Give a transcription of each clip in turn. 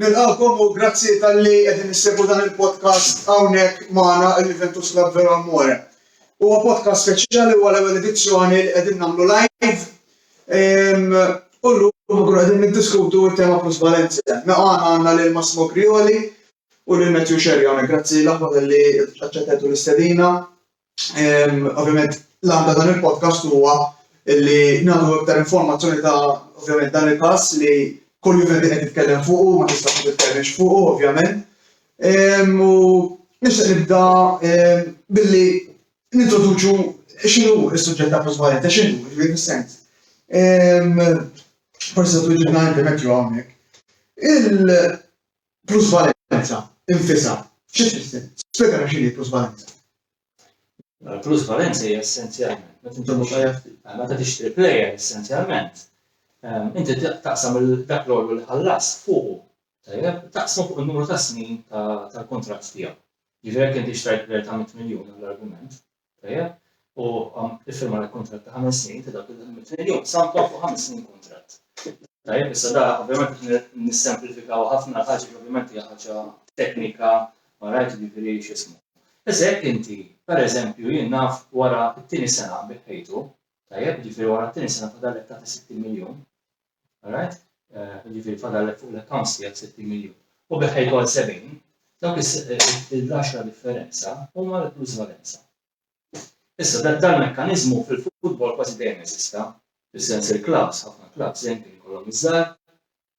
Nilqagħkom u grazzi talli qegħdin issegwu dan il-podcast hawnhekk magħna il-Juventus Club Vero Amore. Huwa podcast speċjali u għal-ewwel edizzjoni li qegħdin nagħmlu live. Ehm, u llum nkunu qegħdin niddiskutu t-tema plus Valencia. Naqgħana mela għandna lil Massimo Grioli u lil Matthew Sherry hawnhekk. Grazzi l-aħħar li aċċettetu l-istedina. Ovvjament, l-għanda dan il-podcast huwa li nagħtu iktar informazzjoni ta' ovvjament dan il-każ li kull jum qed titkellem fuqu, ma tista' ma titkellmx fuqu, ovvjament. U nixtieq nibda billi nintroduċu x'inhu s-suġġett ta' plus value, ta' x'inhu, ġifieri fis-sens. Forsi se tuġibna inti mekkju hawnhekk. plusvalenza infisha xi tfisser? Spjegana x'inhi plusvalenza. Mela l-plusvalenza hija essenzjalment meta inti mhux meta tixtri plejer essenzjalment inti taqsam dak l-għollu li ħallas fuqu. Tajjeb, taqsmu fuq in-numru ta' snin tal-kuntratt tiegħu. Jiġifieri jekk inti xtrajt plejer ta' mitt miljun għall-argument, Tajjeb? U iffirma li kuntratt ta' ħames snin ta' dawk il-ħidmiet mill-jum sampla fuq ħames snin kuntratt. Tajjeb, issa da ovvjament nissemplifikaw ħafna ħaġa ovvjament hija ħaġa teknika ma rajt jiġifieri x'ismu. Issa jekk inti, pereżempju, jien naf wara t-tieni sena biħħejtu, tajjeb, jiġifieri wara t-tieni sena fadallek tagħti 60 miljun, Alright? Jiġifieri fadallek fuq l-accounts tiegħek 60 miljun. U bih ħejkoll 70, dawk il-10 differenza huma l-plusvalenza. Issa dan dan mekkaniżmu fil-futbol kważi dejjem eżista, fis-sens il-klabbs, ħafna klabbs dejjem kien kollhom iż-żgħar,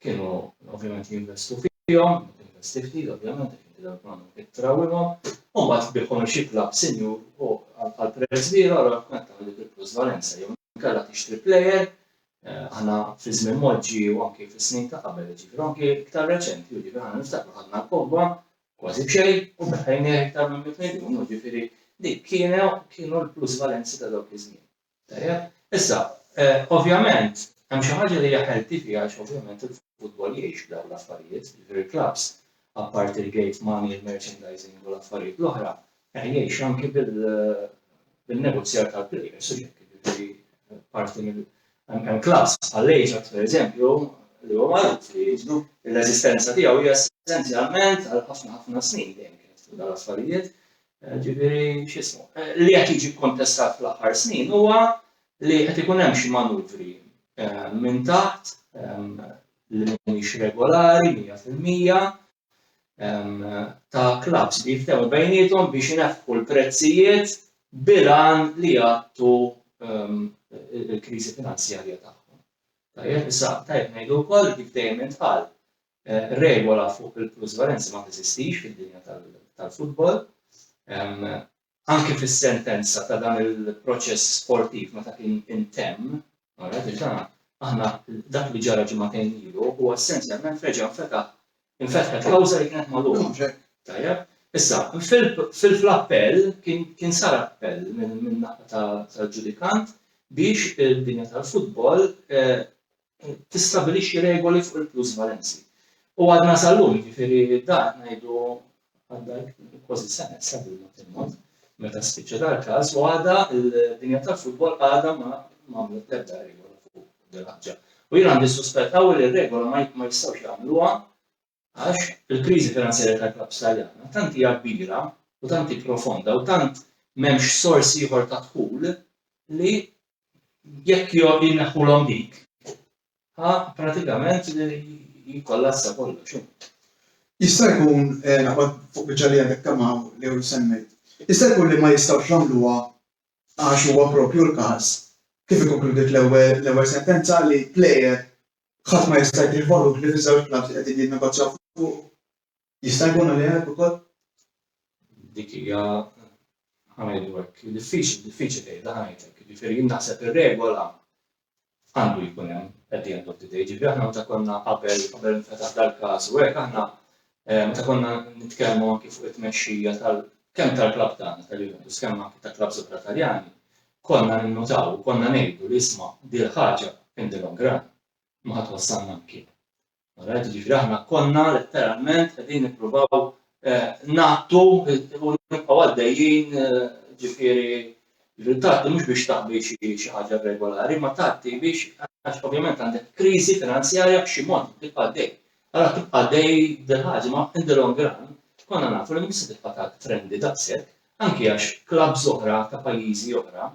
kienu ovvjament jinvestu fihom, investi ftit ovvjament għax inti dawk m'għandhom kif trawwimhom, u mbagħad tbiħhom il xi klabb sinjur u għal prezz kbir allura tkun qed tagħmel dik il-plusvalenza jew inkella tixtri plejer Aħna fi żmien Moġġi u anki fis-snin ta' qabel, jiġifieri u anki iktar reċenti, jiġifieri aħna niftakru ħadna l-kotba kważi b'xejn u beħħejnieh iktar minn mitt miljun, jiġifieri dik kienu kienu l-plusvalenzi ta' dawk iż-żmien. Tajjeb? Issa, ovvjament, hemm xi ħaġa li hija healthy fiha għax ovvjament il-futbol jgħix b'dawn l-affarijiet, jiġifieri l-klabbs, apparti l-gate money, il-merchandising u l-affarijiet l-oħra, Teħjeġ anki bil-negozjar tal-players u hekk, jiġifieri parti mill-, hemm klass bħal l-Ajax pereżempju li huwa magħruf li jiġu, l-eżistenza tiegħu hija essenzjalment għal ħafna ħafna snin dejjem kienet fuq dawn l-affarijiet, jiġifieri x'ismu. Li qed jiġi kkontestat fl-aħħar snin huwa li qed ikun hemm xi manuvri minn taħt li mhumiex regolari 100% ta' klabbs li jiftehmu bejniethom biex ineħħu l-prezzijiet bil-għan li jgħattu l-kriżi finanzjarja tagħhom. Tajjeb, issa tajjeb ngħidu wkoll kif dejjem intqal regola fuq il-plusvalenzi ma teżistix fid-dinja tal-futbol. anki fis-sentenza ta' dan il-proċess sportiv meta kien intemm, ara diġà, aħna dak li ġara ġimagħtejn ilu huwa essenzjalment reġa' nfetaħ infetħet kawża li kienet magħluqa. Tajjeb? Issa, fil-appell kien sar appell minn naħa tal-ġudikant biex il-dinja tal-futbol eh, tistabilixxi regoli fuq il-plusvalenzi. U għadna sal-lum, ġifiri dan ngħidu għadda kważi sena issa bil-mod il-mod, meta spiċċa dal-każ, u għadha l-dinja tal-futbol għadha ma għamlet l-ebda regola fuq dil-ħaġa. U jien għandi suspett qawwi li r-regola ma jistgħux jagħmluha Għax, il-kriżi finanzjarja tal-klabbs Taljana tant hija kbira u tant hi profonda u tant m'hemmx sors ieħor ta' dħul li jekk jneħħulhom dik, ha pratikament jikkollassa kollox. Jista' jkun, naqbad fuq biċċa li għadek kemm hawn jew semmejt, jista' jkun li ma jistgħux jagħmluha għax huwa proprju l-każ, kif ikkonkludiet l-ewwel sentenza, li plejer Ħadd ma jista' jbigħ valur li fiż-żewġ blat li qegħdin jinnegozjaw fuqu. Jista' jkun għalih għajb ukoll? Dik hija, ħa ngħidu hekk, diffiċli, diffiċli tgħidha, ħa ngħid hekk. Jiġifieri jien naħseb ir-regola għandu jkun hemm at the end of the day. Jiġifieri aħna meta konna qabel, qabel infetaħ dal-każ u hekk aħna Meta konna nitkellmu anki fuq it-tmexxija tal kemm tal-klabb tagħna tal-Juventus kemm anki ta' klabbs oħra Taljani, konna ninnutaw u konna ngħidu li isma' dil-ħaġa in the long run ma ħa twassalna mkien. Alright, jiġifieri aħna konna letteralment qegħdin nippruvaw ngħattu u nibqgħu għaddejjin ġifieri ġifieri tgħatti mhux biex taħbi xi ħaġa regolari, ma tgħatti biex għax ovvjament għandek kriżi finanzjarja b'xi mod tibqa' għaddej. Ara tibqa' dej dil-ħaġa ma in the long run konna nafu li mhux se tibqa' tant trendy daqshekk anki għax clubs oħra ta' pajjiżi oħra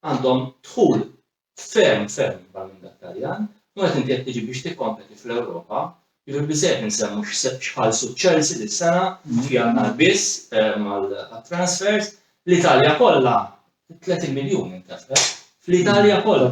għandhom dħul ferm ferm ikbar minn dak Taljan u meta inti qed tiġi biex tikkompeti fl-Ewropa jiġifieri biżżejjed insemmu x'ħallsu Chelsea dis-sena f'Jannar biss għat-transfers l-Italja kollha 30 miljun intefqet fl-Italja kollha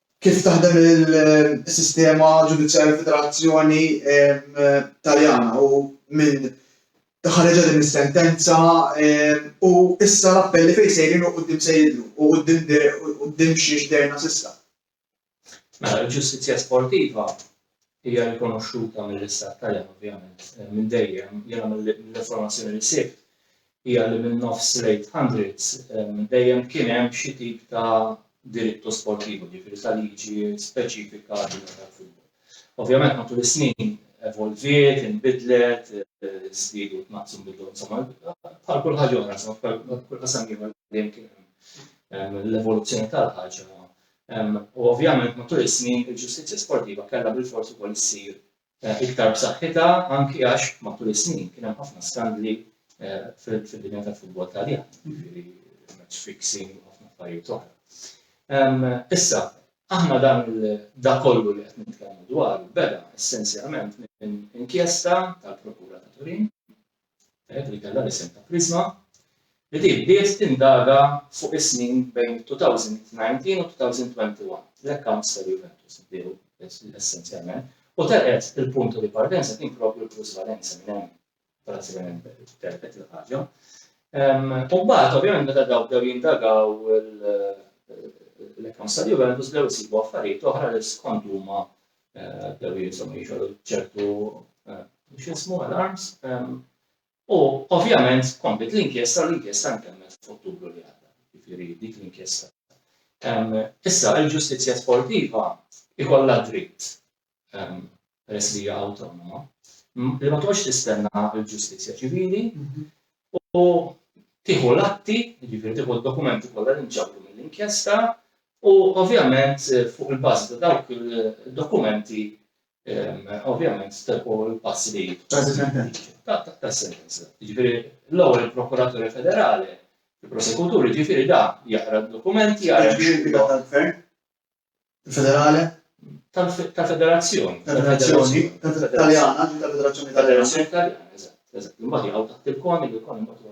Kif taħdem il-sistema ġudizzjarja fid-Federazzjoni Taljana u minn ħareġha din is-sentenza u issa l-appelli fejn sejrin u quddiem se jidhru u quddiem xiex dherna s'issa. Mela l-ġustizzja sportiva hija rikonoxxuta mill-Istat Taljan ovvjament minn dejjem, jiena mill-informazzjoni li sibt hija li min-nofs l-800 dejjem kien hemm xi tip ta' diritto sportivo, jiġifieri ta' liġi speċifika għad-dinja tal-futbol. Ovvjament matul is-snin evolviet, inbidlet, żdiedu tnaqqsu nbidlu insomma bħal kull ħaġa oħra, insomma bħal kull qasam ieħor dejjem kien hemm l-evoluzzjoni tal-ħaġa U ovvjament matul is-snin il-ġustizzja sportiva kellha bilfors ukoll issir eh, iktar b'saħħitha anki għax matul is-snin kien hemm ħafna skandli eh, fid-dinja tal-futbol Taljan, jiġifieri match fixing u ħafna affarijiet oħra. Ehm, issa, aħna dan da kollu li qed nitkellmu dwar beda essenzjalment minn inkjesta tal-Prokura ta' Turin li kellha l-isem ta' Prisma, li din bdiet tindaga fuq is-snin bejn 2019 u 2021, l-accounts tal-Juventus bdew essenzjalment, u telqet il-punto di partenza kien proprju l-plusvalenza minn hemm pratikament telqet il-ħaġa. U mbagħad ovvjament meta dawk bdew jindagaw l-accounts tal-Juventus bdew isibu affarijiet oħra li skont huma bdew insomma jixogħlu ċertu x'ismu alarms. U ovvjament komplet l-inkjesta l-inkjesta nkemmet f'Ottubru li għadda, jiġifieri dik l-inkjesta. Issa il-ġustizzja sportiva ikollha dritt peress li hija awtonoma li ma toqgħodx tistenna l-ġustizzja ċivili u tieħu l-atti, jiġifieri tieħu d-dokumenti kollha li nġabru mill-inkjesta u ovvjament fuq il-bażi ta' dawk id-dokumenti ovvjament teħu l-passi li tas-sentenza. Jiġifieri l-ewwel il-Prokuraturi Federali, il-Prosekuturi, jiġifieri dan jaqra d-dokumenti, jara Ġifieri l-impriża tal-Gvern federale tal federazzjoni tal federazzjoni taljana tal federazzjoni taljana eżatt imbagħad jaqgħu taħt il-kon il-kon imbagħad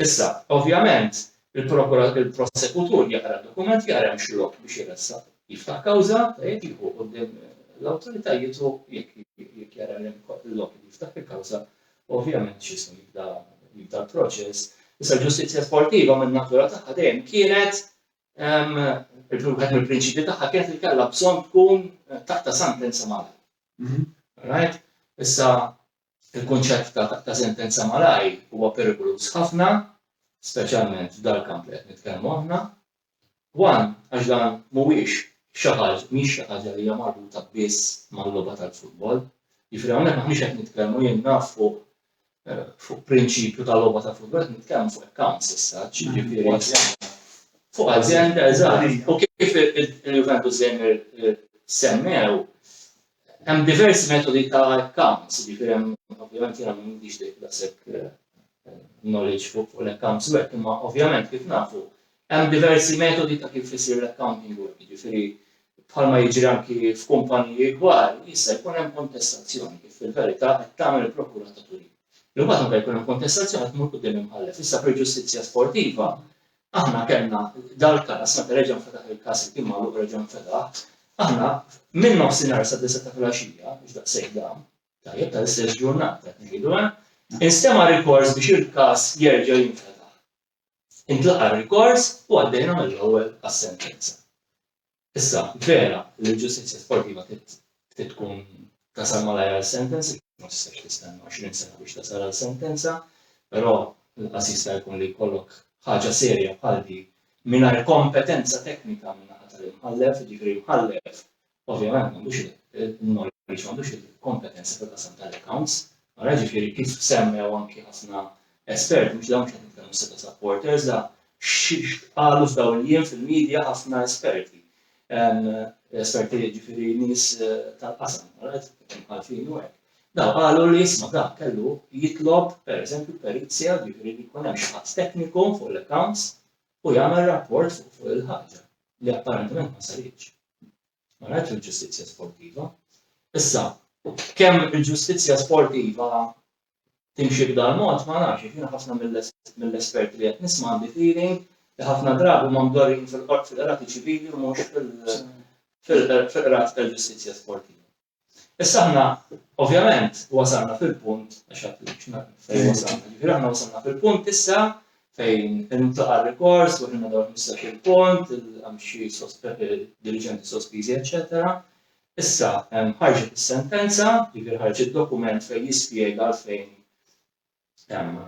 issa ovvjament il-prosekutur jaqra dokument jaqra hemm xi lok biex jiressa jiftaħ kawża tajjeb jieħu qudiem l-awtoritajiet u jekk jara l-lok jiftaħ il-kawża Ovvjament x'isem jibda jibda l-proċess. Issa l-ġustizzja sportiva minn natura tagħha dejjem kienet il-wieħed mill-prinċipji tagħha kienet li kellha bżonn tkun taħta sentenza malaj. Mhm. Right? Issa il-kunċett ta' sentenza malaj huwa perikoluż ħafna, speċjalment f'dal-kamp li qed nitkellmu aħna, One, għax dan mhuwiex xi ħaġ, mhix xi ħaġa li hija marbuta biss mal-logħba tal-futbol. Jiġifieri hawnhekk aħniex qed nitkellmu jien naf fuq fuq prinċipju ta' logħba ta' futbol, qed nitkellmu fuq accounts issa, ġifieri fuq azienda eżatt. U kif il-Juventus Zejmer semmew, Hemm diversi metodi ta' accounts, jiġifieri hemm ovvjament jiena m'għandix daqshekk eh, knowledge fuq fuq l-accounts work, imma ovvjament kif nafu hemm diversi metodi ta' kif isir l-accounting work, jiġifieri bħalma jiġri anki f'kumpaniji kbar, jista' jkun hemm kontestazzjoni kif fil-verità qed tagħmel il-prokura ta' Turin. Imbagħad meta jkun hemm kontestazzjoni qed tmur quddiem imħallef. Issa fil-ġustizzja sportiva Aħna kellna dal-każ, meta reġa' nfetaħ il-każ li kien magħluq reġa' nfetaħ, aħna minn nofsinhar sad-disgħa ta' filgħaxija, mhux daqshekk dam, tajjeb, tal-istess ġurnata qed ngħidu, eh, instema' rikors biex il-każ jerġa' jinfetaħ. Intlaqa' r-rikors u għaddejna mill-ewwel għas-sentenza. Issa, vera li l-ġustizzja sportiva trid tkun tasal malajr għal sentenza, ma tistax tistenna għoxrin sena biex tasal għal sentenza, però inqas jista' jkun li jkollok ħaġa serja bħal din mingħajr kompetenza teknika min-naħa tal-imħallef, jiġifieri l-imħallef ovvjament m'għandux il-knowledge, m'għandux il-kompetenza fil-qasam tal-accounts, Ara ġifieri kif semmew anki ħafna esperti, mhux dawn mhux qed nitkellmu issa ta' supporters, da x'qalu f'dawn il-jiem fil-media ħafna esperti. Esperti ġifieri nies tal-qasam, alright, imħallfin u hekk. Dawn qalu li isma' dan kellu jitlob pereżempju perizja ġifieri li jkun hemm xi ħadd tekniku fuq l-accounts u jagħmel rapport fuq il-ħaġa li apparentement ma saritx. Ma rajtx il-ġustizzja sportiva. Issa, kemm il-ġustizzja sportiva timxi b'dal-mod ma nafx, għax jiena ħafna mill-esperti li qed nisma' għandi feeling li ħafna drabi huma mdorrijin fil-qrati ċivili u mhux fil-qrati tal-ġustizzja sportiva. Issa aħna ovvjament wasalna fil-punt, għax għad li xna fejn wasalna, ġifiri aħna wasalna fil-punt issa fejn il-mtlaqa rikors, u ħinna dawn 15 il-punt, il-għamxi eh, dirigenti sospizi, eccetera. Issa, ħarġet is-sentenza, ġifir ħarġet dokument fejn jispjega għalfejn hemm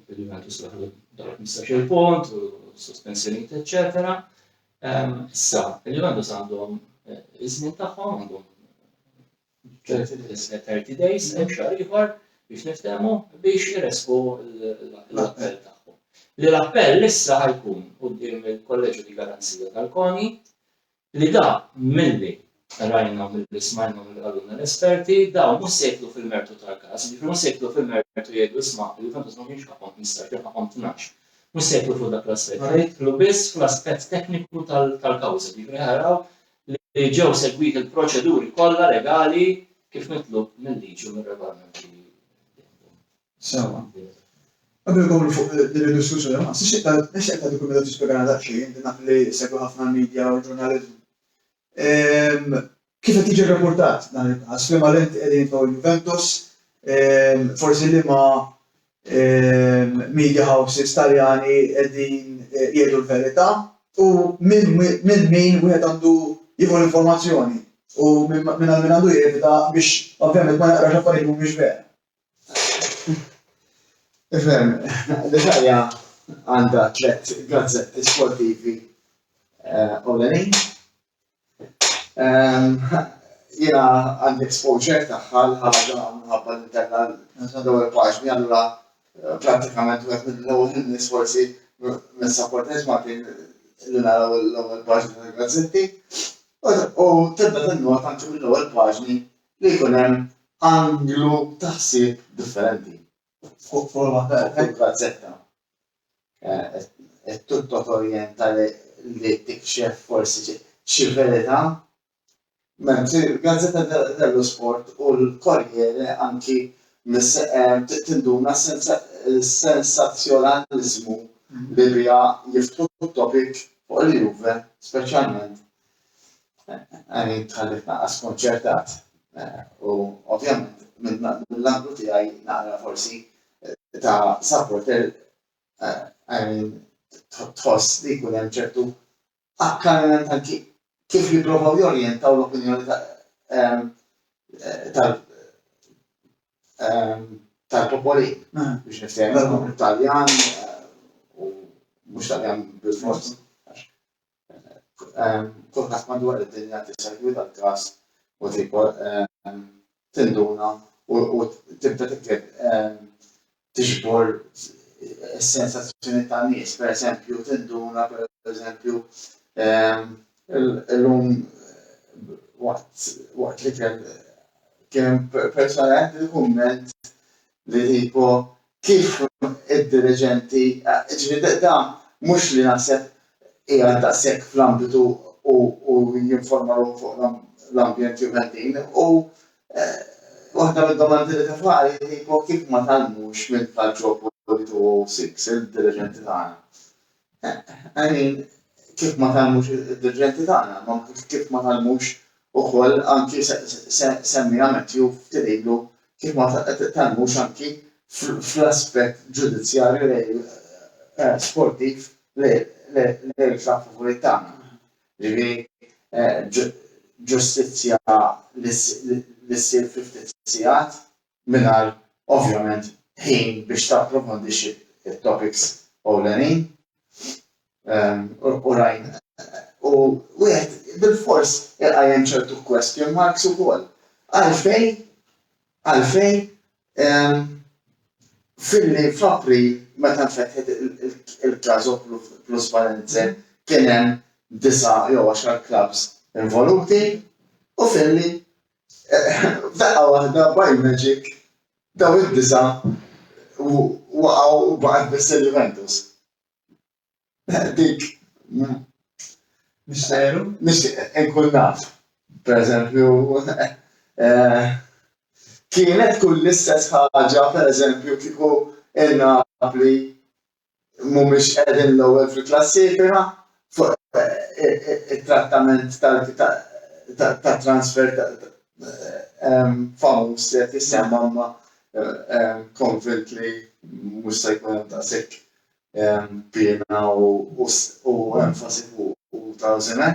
il-livell tisbaħ dawk 15 punt u sospensjonijiet eċċetera. Ehm, issa, il-Juventus għandhom eh, iż-żmien tagħhom għandhom 30 days hemm xahar ieħor biex niftehmu biex iresqu l-appell tagħhom. Li l-appell issa ħajkun quddiem il-kolleġġju di garanzija tal-koni Li dak milli rajna u milli smajna u milli qalulna l-esperti, dawn mhux se jidħlu fil-mertu tal-każ, jiġifieri mhux se jidħlu fil-mertu jgħidu isma', il-Juventus ma kienx ħaqqhom tmistax jew ħaqqhom tnax. Mhux se jidħlu fuq dak l-aspett, se jidħlu biss fl-aspett tekniku tal-kawża, jiġifieri ħa jaraw li ġew segwiti l-proċeduri kollha legali kif mitlub mil-liġi u mir-regolamenti li hemm. Sewwa. Qabel inkomplu fuq din id-diskussjoni, ma tħossx li ta' tmexxi aktar li kull meta tispjegana daqsxejn, inti naf li segwi ħafna l-media u l-ġurnaliżmu. Kif qed jiġi rrapportat dan il-każ, f'liema lenti qegħdin jitfgħu l-Juventus, forsi liema media houses Taljani qegħdin jgħidu l-verità u minn minn min wieħed għandu jieħu l-informazzjoni u minn għand min għandu jevita biex ovvjament ma jaqrax affarijiet li mhumiex vera. Ifhem, l-Italja għandha tliet gazzetti sportivi eh, ewlenin. Ehm, jiena għandi exposure tagħha l-ħaġa minħabba li kellha l-ewwel paġni allura eh, prattikament wieħed mill-ewwel nies forsi mis-supporters Maltin li naraw l-ewwel paġni tal-gazzetti. U tibda tinnota anke mill-ewwel paġni li jkun hemm anglu ta' ħsieb differenti fuq forma ta' gazzetta qed titlob torjenta li tikxef forsi xi verità. Mentri l-gazzetta dello sport u l-Corriere anki tinduna s-sensazzjonaliżmu li biha jiftħu t-topic fuq il-Juve speċjalment Għani tħalli tnaqqa skonċertat u ovvjament mill-anglu tiegħi naqra forsi ta' supporter għani tħoss li jkun hemm ċertu akkarament anki kif jipprovaw jorjentaw l-opinjoni tal tal-popoli hmm. biex niftehmu Taljan eh, u mhux Taljan bil-fors. kulħadd madwar id-dinja tissegwi dal-każ u tinduna u tibda tikteb tiġbor is-sensazzjoni ta' nies, per eżempju, tinduna per eżempju l-lum waqt li kien kien persona għed il-kumment li tipo kif id-diriġenti, ġifieri da mhux li naħseb qiegħed daqshekk fl-ambitu u u jinforma ruħu fuq l-ambjent Juventin u waħda mid-domandi li tefa' hi tipo kif ma tgħallmux mill-Calciopoli 206 il-diriġenti tagħna. I mean, kif ma tgħallmux id-dirġenti tagħna, ma kif ma tgħallmux ukoll anki semmiha Matthew ftit ilu, kif ma tgħallmux anki fl-aspett ġudizzjarju lejn sportiv lejn il-klabb favorit tagħna. Jiġifieri ġustizzja li ssir fi ftit sigħat mingħajr ovvjament ħin biex tapprofondixxi t-topics ewlenin. U rajn u wieħed bilfors iqajjem ċertu question marks ukoll. Għalfejn għalfejn filli f'April meta nfetħet il-Caso Plus Valenze kien hemm disa' jew għaxar clubs involuti u filli F'daqqa waħda, by magic, dawn id-disa' waqgħu u baqgħet biss il-Juventus. Dik nixtieq inkun naf, pereżempju, kienet tkun l-istess ħaġa, pereżempju, kieku il-Napoli mhumiex qegħdin l-ewwel fil-klassifika fuq it-trattament ta' transfer famuż li qed jissemma imma konvint li mhux se jkun hemm daqshekk piena u enfasi fuqu ta' żimen.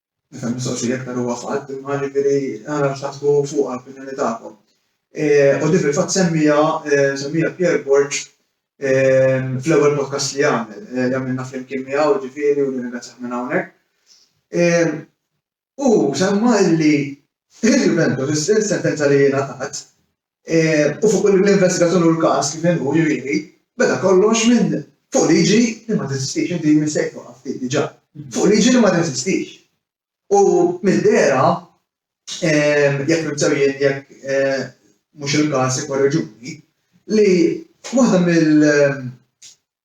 Nifhem li mistoqsija iktar huwa fatt, imma jiġifieri narax taħsbu fuqha l-opinjoni tagħkom. U din fil-fatt semmiha semmiha Pierre Borg fl-ewwel podcast li għamel, li għamilna flimkien miegħu ġifieri u nirringrazzjah minn hawnhekk. Hu semma li il-Juventus, is-sentenza li ngħatat, u fuq l-investigazzjoni u l-każ kif inhu jrieni, beda kollox minn fuq liġi li ma teżistix, inti missejt fuqha ftit diġà, fuq liġi li ma teżistix. U mid-dehra, jekk nimt sew jien jekk mhux il-każ ikkorreġuni, li waħda mill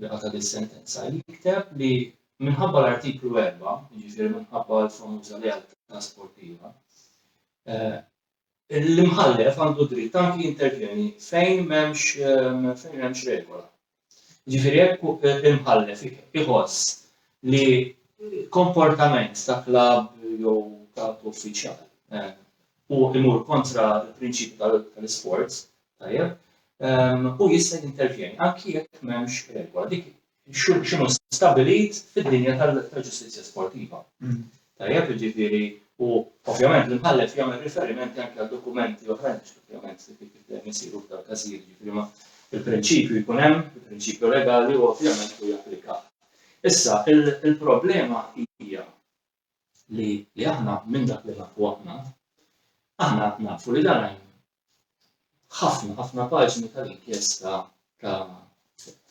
li qata' dis-sentenza, jikteb li minħabba l-Artiklu 4, jiġifieri minħabba l-famuża lealtà sportiva, l-imħallef għandu dritt anki jintervjeni fejn m'hemmx fejn hemmx regola. Ġifieri jekk l-imħallef iħoss li komportament ta' klab jew ta' uffiċjal eh, u imur kontra l-prinċipju tal-isports, Tajjeb? Ehm, u jista' jintervjeni anki jekk m'hemmx regola dik x'inhu stabilit fid-dinja tal-ġustizzja sportiva. Mm. Tajjeb, jiġifieri u ovvjament l-imħallef jagħmel riferimenti anke għal dokumenti oħrajn biex ovvjament kif dejjem isiru f'dal każijiet, jiġifieri ma il-prinċipju jkun hemm, il-prinċipju legali u ovvjament u japplika. Issa, il-problema hija li li aħna minn dak li nafu aħna, aħna nafu li dan hemm ħafna ħafna paġni tal-inkjesta ta'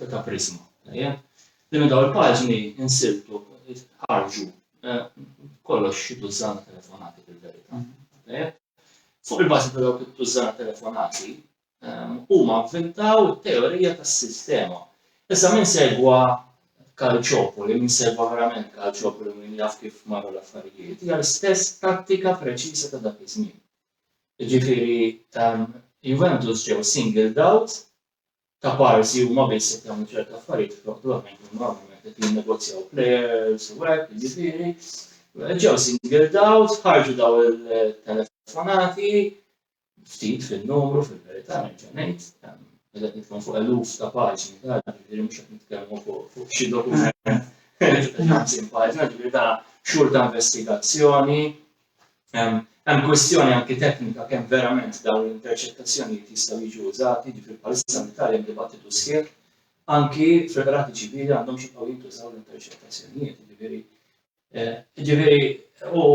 ta' Prisma. Li minn dawn il-paġni insibtu ħarġu eh, kollox xi tużżana telefonati fil-verità. Fuq il-bażi ta' dawk it-tużżana telefonati, huma vvintaw it-teorija tas-sistema. Issa min segwa Calciopoli, min segwa verament Calciopoli min jaf kif marru l-affarijiet, hija l-istess tattika preċiża ta' dak iż-żmien. Jiġifieri Juventus ġew singled out ta' parsi huma biss qed jagħmlu ċerta affarijiet flok l-oħrajn kienu normalment qed jinnegozjaw players u hekk, jiġifieri ġew singled out, ħarġu daw il-telefonati, ftit fin-numru fil-verità nerġa' ngħid, qed nitkellmu fuq eluf ta' paġni ta' ġifieri mhux qed nitkellmu fuq xi dokument ħamsin paġna, ġifieri ta' xhur ta' investigazzjoni. Hemm kwistjoni anki teknika kemm verament dawn l-interċettazzjonijiet jistgħu jiġu użati, ġifieri bħalissa l-Italja dibattitu sħiħ anki fil-qrati ċivili għandhomx jibqgħu jintużaw l-interċettazzjonijiet, ġifieri Ġifieri u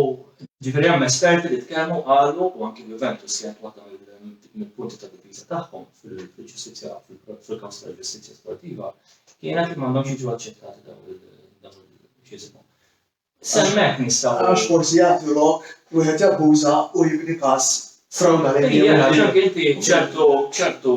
ġifieri hemm esperti li tkellmu qalu u anki Juventus kienet waħda mill-punti ta' difiża tagħhom fil-ġustizzja fil-każ tal-ġustizzja sportiva kienet li m'għandhomx jiġu aċċettati dawn il-ġiżmu. Semmek nistgħu. Għax forsi jagħtu lok wieħed jabbuża u jibni każ frawdali. Ija, ġank inti ċertu ċertu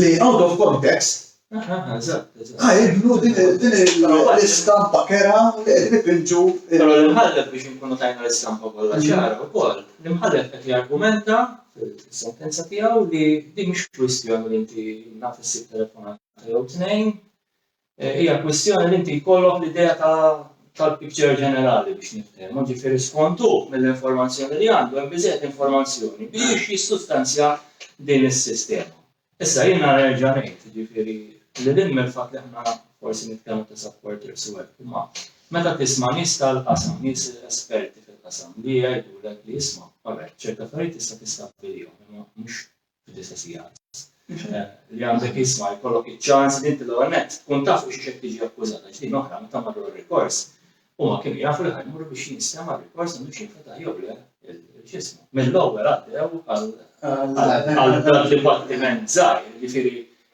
li out of context Ah, jibnu din l-istampa kera li qed nipinġu. Però l-imħallef biex inkunu tajna l-istampa kollha mhm. ċara wkoll, l-imħallef qed jargumenta fil-sentenza tiegħu li din mhux kwistjoni li inti naf issib telefonata jew tnejn, eh, hija kwistjoni li inti jkollok l-idea tal-picture ġenerali biex niftehmu, ġifieri skontu mill-informazzjoni li għandu hemm biżejjed informazzjoni biex jissustanzja din is-sistema. Issa jien nara nerġa' ngħid, ġifieri li din mill-fatt li aħna forsi nitkellmu ta' supporters u hekk, imma meta tisma' nies tal-qasam, nies esperti fil-qasam li jgħidulek li jisma' għalhekk ċerta affarijiet tista' tistabbilihom, imma mhux fid-disa' sigħat. Li għandek isma' jkollok iċ-ċans li inti l-ewwel nett tkun taf fuq xiex qed tiġi akkużat għax din oħra meta marru għar-rikors huma kienu jafu li ħa jmorru biex jinstema' r-rikors għandux jinfetaħ jew le x'ismu. Mill-ewwel għaddew għal dan dibattiment żgħir, jiġifieri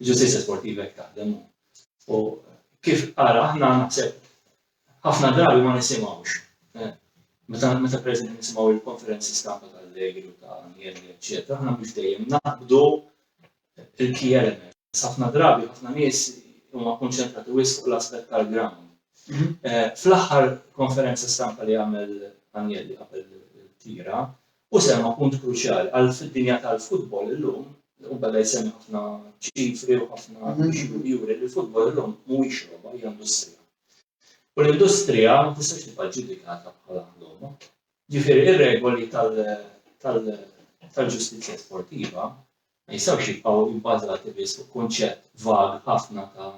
Ġustizja sportiva jek taħdem. U kif għara aħna naħseb ħafna drabi ma nisimawx. Eh, meta meta preżenti nisimgħu il-konferenzi stampa tal-lejl u ta' nielli, eċċetera, aħna mhux dejjem naqbdu il-key element. Ħafna drabi ħafna nies huma kkunċentrati wisq fuq l-aspett tal-ground. Fl-aħħar konferenza stampa li għamel Agnelli qabel it-tira, hu semma punt kruċjali għal fid-dinja tal-futbol illum, u beda jsemmi ħafna ċifri u ħafna biex juri li l-futbol illum mhuwiex logħba, hija industrija. U l-industrija ma tistax tibqa' ġġudikata bħala logħba. Ġifieri r-regoli tal-ġustizzja sportiva ma jistgħux jibqgħu ibbażati biss fuq kunċett vag ħafna ta'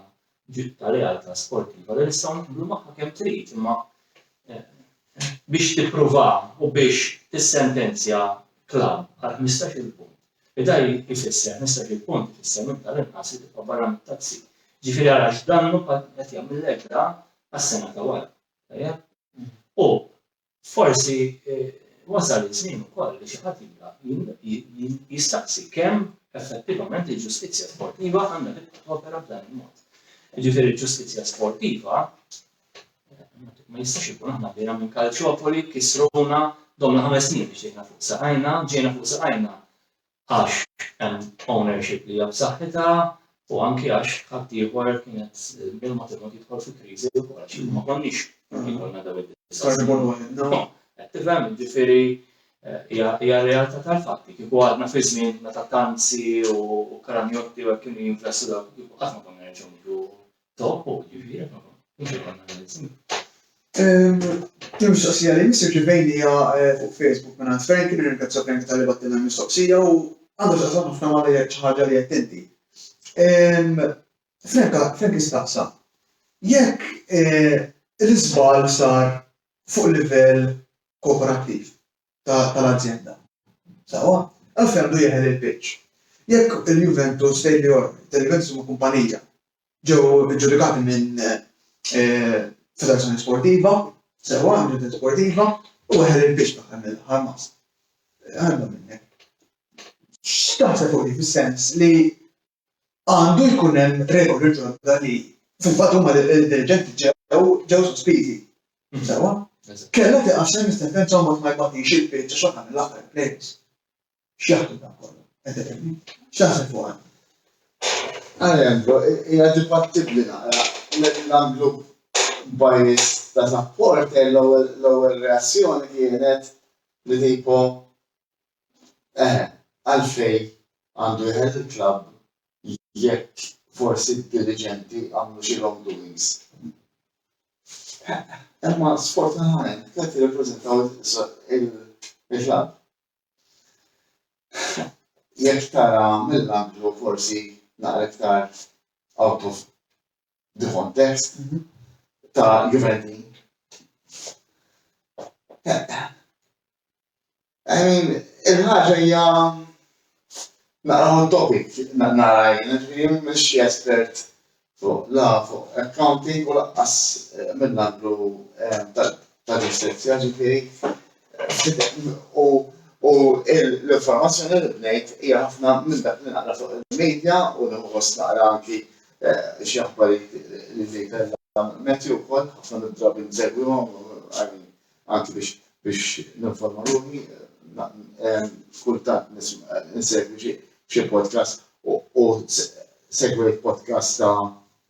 ta' realtà sportiva li nistgħu naqblu magħha kemm trid imma biex tippruva u biex tissentenzja klabb għal ħmistax-il punt li da jfisser ħmistax-il punt ifisser minn tal-inqas li tibqa' barra mit-tazzi. Jiġifieri ara x'dannu qed jagħmillek da għas-sena ta' wara. Tajjeb? U Forsi wasal iż-żmien ukoll li xi ħadd jibda jistaqsi kemm effettivament il-ġustizzja sportiva għandha tibqa' topera b'dan il-mod. Jiġifieri l-ġustizzja sportiva ma jistax ikun aħna bdejna minn Calciopoli, kisruna, domna ħames snin biex ġejna fuq saqajna, ġejna fuq saqajna għax hemm ownership li hija b'saħħitha u anki għax ħaddieħor kien qed minn mod il-mod jidħol fi kriżi wkoll għax ma konniex ikollna dawn id-disa' snin. Qed tifhem? Jiġifieri hija r-realtà tal-fatti. Kieku għadna fi żmien meta t-tanzi u kranjotti u hekk kienu jinvestu dawk kieku qatt ma konna nerġgħu niġu Il-mistoqsija li jmiss irċivejni hija fuq Facebook mingħand Frank, nirringrazzja Frank talli bagħtilna l-mistoqsija u għandha x'taqsam ħafna ma' li qed xi ħaġa li qed inti. Frank Frank istaqsa jekk l-iżball sar fuq livell kooperattiv. tal-azjenda. Sewwa? Għalfejn għandu jeħel il-pitch? Jekk il-Juventus tgħid li Orban, li l-Juventus huma kumpanija, ġew iġġudikati minn federazzjoni sportiva, sewwa, minn ġudikazzjoni sportiva, u jeħel il-pitch fl-aħħar mill-aħħar mas. Għalma minnek. X'taħseb fuq li fis-sens li Għandu jkun hemm regoli ġodda li fil-fatt huma d-dirigenti ġew ġew sospiżi. Sewwa? Kellha tiqassem is-sentenza u ma tmajbatix il-pitch għax aħna mill-aħħar il-players. X'jaħdmu dan kollu? Qed tifhimni? X'taħseb fuq dan? Għalhekk, hija dibattibbli naqra. Mill-angle bias ta' supporter l-ewwel reazzjoni kienet li tipo Eħe, għalfejn għandu jeħel il-klabb jekk forsi d-diriġenti għamlu xi wrong doings? Imma sfortunatament tliet jirrappreżentaw il-klabb. Jekk tara mill-anglu forsi naqra iktar out of the context ta' Juventin. I mean, il-ħaġa hija naqra hot topic naqra jien, mhux espert fuq la fuq accounting u laqqas eh, mill-għandlu eh, ta' ġustizzja ġifieri u u l-informazzjoni li bnejt hija ħafna minn dak li naqra fuq il-medja u nħoss naqra anki eh, xi aħbari li ġej kellha metju wkoll ħafna mid-drabi nsegwihom anki biex biex ninforma ruħi eh, kultant nsegwi xi podcast u segwi podcast ta'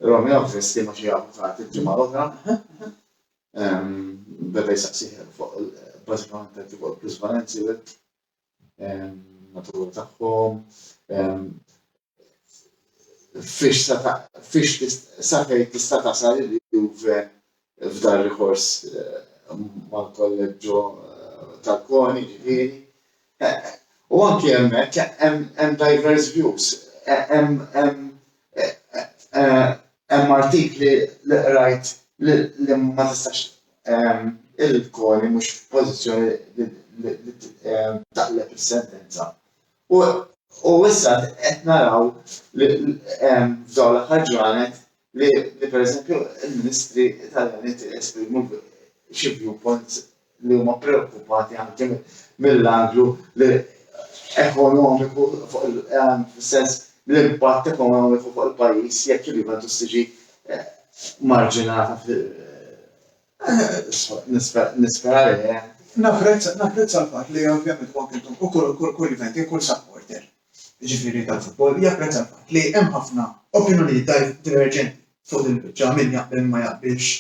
Romeo Festi ma xi avukati ġimgħa l-oħra. Beda jsaqsih fuq bażikament hekk fuq il-plusvalenzi u hekk natura tagħhom fiex sa fejn tista' tasal il-Juve f'dar rikors eh, mal-kolleġġo eh, tal-koni ġifieri U anki hemmhekk hemm diverse views. Hemm artikli li qrajt li ma tistax il-Koni mhux f'pożizzjoni li taqleb is-sentenza. U issa qed naraw f'dawn l-aħħar ġranet li pereżempju l-Ministri Italjani esprimu xi viewpoints li huma preokkupati anke mill-anglu li ekonomiku fuq il-sens l-impatt ekonomiku fuq il-pajjiż jekk il-Juventus tiġi eh, marġinata nispera li eh. Napprezza l-fatt li ovvjament huwa kintu kull kull kull Juventi kull supporter. jiġifieri tal-futbol, japprezza l-fatt li hemm ħafna opinjonijiet diverġenti fuq din il-biċċa, min jaqbel min ma jaqbilx,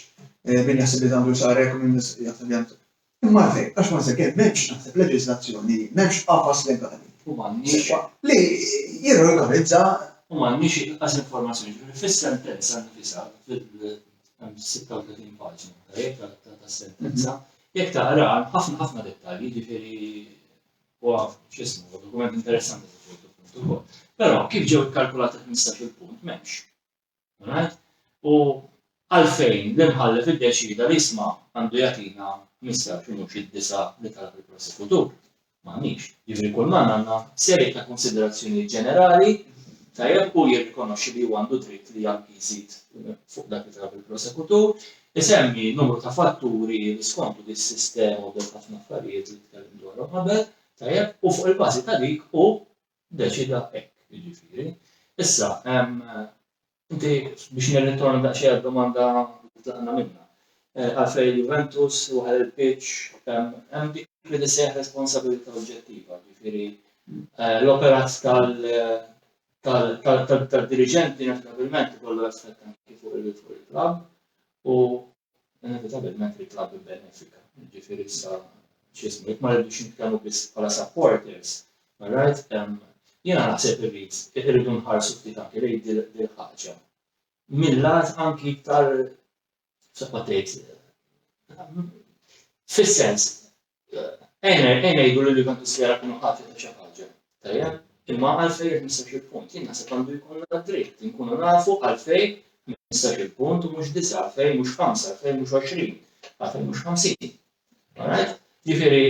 min jaħseb li għandu jsar hekk u min jaħseb li għandu. Imma għalfejn? Għax ma sakemm m'hemmx naħseb leġiżlazzjoni, m'hemmx qafas legali sewwa li jirregolarizza. U m'għandniex inqas informazzjoni, jiġifieri fis-sentenza nnifisha, hemm 36 paġna tajjeb tas-sentenza, jekk taqraha hemm ħafna ħafna dettalji, jiġifieri u għaf xismu, u dokument interessanti ta' ċertu punt u kol. Pero, kif ġew kalkulati 15 il-punt, memx. Right? U għalfejn l-imħallef id-deċida li jisma għandu jatina 15 u mux id-disa li talab il-prosekutur. Maħnix. Jivri kull man għanna seri ta' konsiderazzjoni ġenerali tajab u jirrikonoxi li għandu dritt li jgħal jizid fuq dak li talab il-prosekutur, Isemmi numru ta' fatturi li skontu din is-sistema u dawk ħafna affarijiet li tkellem dwarhom qabel, tajjeb, u fuq il-bażi ta' dik hu ddeċida hekk, jiġifieri. Issa, inti biex nirritorna daqsxejn għad-domanda li tlaqna minnha, għalfejn il-Juventus waħal il-pitch, hemm dik li tissejjaħ responsabilità oġġettiva, jiġifieri l-operat tad-diriġenti inevitabilment ikollu effett anki fuq il-klabb u inevitabilment il-klabb ibbenefika. Jiġifieri issa x'ismu, jekk ma rridux nitkellmu biss bħala supporters, right? Jiena naħseb irrid irridu nħarsu ftit anki lejn dil-ħaġa. Mill-lat anki iktar saqqa tgħid fis-sens Ejna, ejna jgħidu li l-Juventus li jara kienu ħati ta' xi ħaġa. Tajja, imma għalfej jekk nistax il-punt, jien naħseb għandu jkun dritt, nkunu nafu għalfej nistax il-punt u mhux disa, għalfej mhux ħamsa, għalfej mhux 20, għalfej mhux 50. Alright? Ġifieri,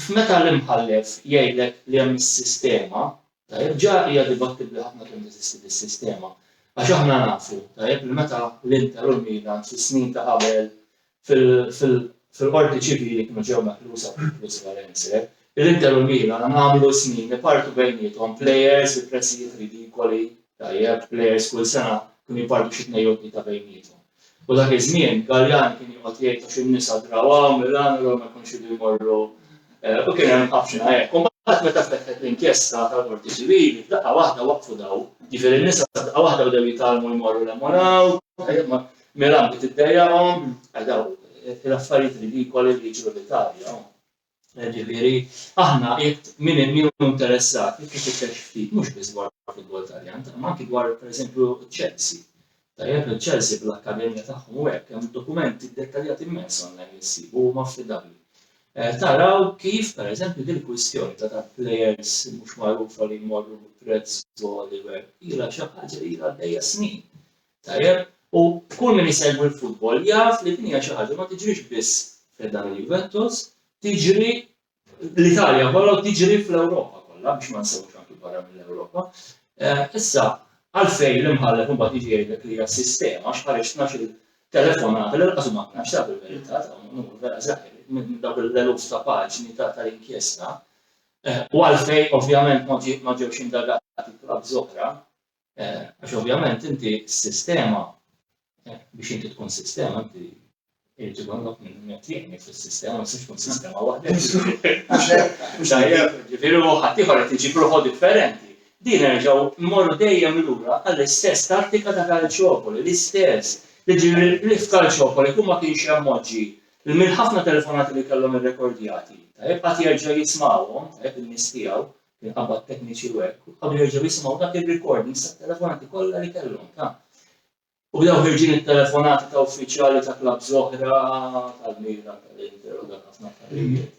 f'meta l-imħallef jgħidlek li hemm is-sistema, Tajjeb, ġa hija dibattibbli ħafna kemm teżisti dis-sistema. Għax aħna nafu, tajjeb, li meta l-Inter u l-Milan fis-snin ta' qabel fil-Qorti Ċivili kienu ġew meħlusa fuq il-plusvalenze, l-Inter u l-Milan għamlu snin ipartu bejniethom plejers bi prezzijiet ridikoli, tajjeb, plejers kull sena kienu jpartu xi tnejn jew tlieta bejniethom. U dak iż-żmien, Galliani kien joqgħod jgħid għax in-nisa draw hawn, Milan, allura ma jkunx idu jmorru, u kien hemm ħafna hekk. U mbagħad meta fetħet l-inkjesta tal-Qorti Ċivili, f'daqqa waħda waqfu dawn. Jiġifieri n-nisa f'daqqa waħda bdew jitgħallmu jmorru hemm u hawn, Milan bdiet iddejjaqhom, dawn l-affarijiet ridikoli li jiġru l-Italja. Jiġifieri, aħna jekk min hemm jew interessat jekk ifittex ftit mhux biss dwar il-futbol Taljan, imma anki dwar pereżempju Chelsea. Tajjeb li Chelsea bl-akkademija tagħhom u hekk hemm dokumenti ddettaljati mmens online li ssib u huma affidabbli. Taraw kif pereżempju din il-kwistjoni ta' ta' plejers mhux magħrufa li jmorru bi prezz għoli u hekk ilha xi ħaġa li ilha għaddejja snin. Tajjeb, u kull min isegwi l-futbol jaf li din hija xi ħaġa ma tiġrix biss fi ħdan il-Juventus, tiġri l-Italja kollha u tiġri fl-Ewropa kollha biex ma nsewwx anki barra mill-Ewropa. Issa, għalfejn l-imħallef imbagħad jiġi jgħidlek li hija sistema għax ħareġ tnax-il telefonata li lanqas huma tnax taf il-verità dawn numru vera żgħir minn dawk l-eluf ta' paġni ta' tal-inkjesta u għalfejn ovvjament ma ġewx indagati bħal żohra Għax ovvjament inti s-sistema, biex inti tkun sistema, inti irrid ikollok minn qed jgħinni fis-sistema, ma tkun sistema waħda. Ġifieri u ħaddieħor qed iġib ruħu differenti. Din nerġgħu mmorru dejjem lura għall-istess tattika ta' Calciopoli, l-istess. Jiġifieri li f'Calciopoli kull ma kienx hemm moġġi, mill-ħafna telefonati li kellhom irrekordjati, tajjeb, qatt jerġa' jismagħhom, tajjeb, in-nies tiegħu, minħabba t-tekniċi u hekk, u qablu jerġgħu jisimgħu dak ir-recordings tat-telefonati kollha li kellhom ta' U bdew ħirġin it-telefonati ta' uffiċjali ta' klabs oħra tal-Milan tal-Inter u dak ħafna affarijiet.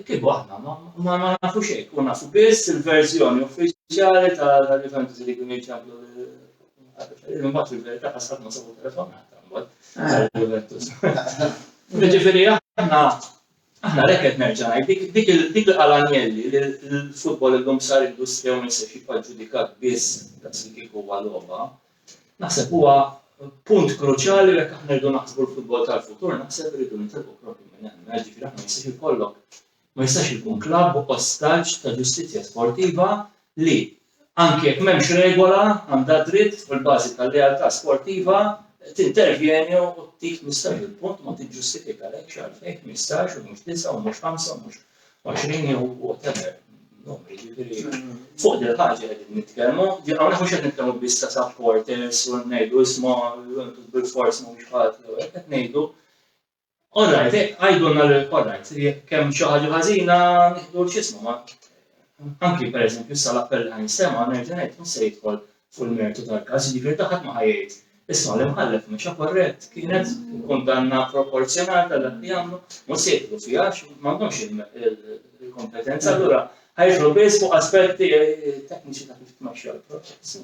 Kieku aħna ma nafu xejn, kun nafu biss il-verżjoni uffiċjali tal-Juventus li kienu jċablu l-imbat fil-verità ħasab ma sabu telefonata. Ġifieri aħna Aħna għalhekk qed nerġa' ngħid, dik il-qal Agnelli li l-futbol illum sar industrija u ma jistax jibqa' ġġudikat biss daqs li kieku huwa logħba, naħseb huwa punt kruċjali u jekk aħna rridu naħsbu l-futbol tal-futur naħseb irridu nitilqu propju minn hemm. Mela jiġifieri aħna ma jistax ikollok ma jistax ikun klabb ostaġġ ta' ġustizzja sportiva li Anki jekk m'hemmx regola, għandha d-dritt, fuq il-bażi tal-lealtà sportiva, tintervjeni u tieħ mistax il-punt ma tiġġustifikalekx għalfejn ħmistax u mhux disgħa u mhux ħamsa u mhux għoxrin jew whatever numri. Jiġifieri fuq dil-ħaġa qegħdin nitkellmu, hawnhekk mhux qed nitkellmu biss ta' supporters u ngħidu isma' bil-fors mhumiex ħati jew qed ngħidu All right, eh, għajdulna li all right, jekk hemm xi ħaġa ħażina nieħdu x'ismu ma. Anki pereżempju issa l-appell li ħansema nerġa' ngħid mhux se jidħol fuq il-mertu tal-każ, jiġifieri ta' ħadd ma ħajjgħid Isma' li mħallef mexa korrett kienet kundanna proporzjonal tal dak li għamlu, ma se jidħlu fiha m'għandhomx il-kompetenza, allura ħajġru biss fuq aspetti eh, tekniċi ta' kif tmexxa l-proċess.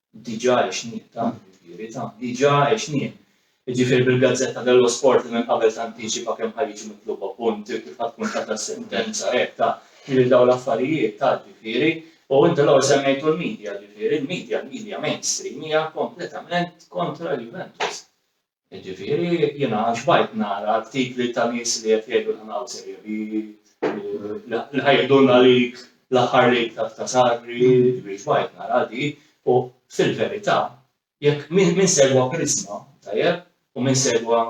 diġà għexnieh dan, jiġifieri dan diġà għexnieh. Jiġifieri bil-Gazzetta dello Sport li minn qabel tantiċipa kemm ħa jiġu mitluba punti, kif ħa tkun tata s-sentenza, hekk ta, jiġifieri dawn l-affarijiet ta, jiġifieri, u inti l-ewwel semmejtu l-media, jiġifieri l-media, l-media mainstream hija kompletament kontra l-Juventus. Jiġifieri jiena xbajt nara artikli ta' nies li qed jgħidu l-ħna u sejjer li li ħa jihdulna lik l-aħħar lik ta' Sagri, jiġifieri xbajt nara di u fil-verità jekk min segwa Prisma, tajjeb, u min segwa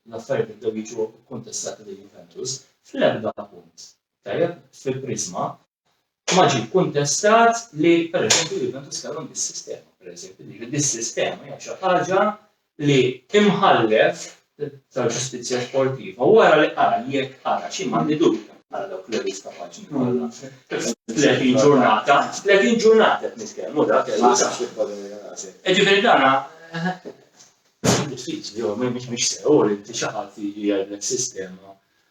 l-affarijiet li bdew jiġu kkuntestati lil Juventus, fl-erbgħa punt Tajjeb, fil-priżma, ma ġie kkuntestat li, pereżempju, Juventus kellhom dis-sistema, pereżempju, jiġifieri dis-sistema hija xi ħaġa li imħallef tal-ġustizzja sportiva wara li qara jekk qara xi m'għandi dubju għal dawk l-eluf ta' paġni kollha. 30 ġurnata, 30 ġurnata qed nitkellmu dak Ġifieri dana diffiċli jew mhix sew li xi ħadd jiġi jgħidlek sistema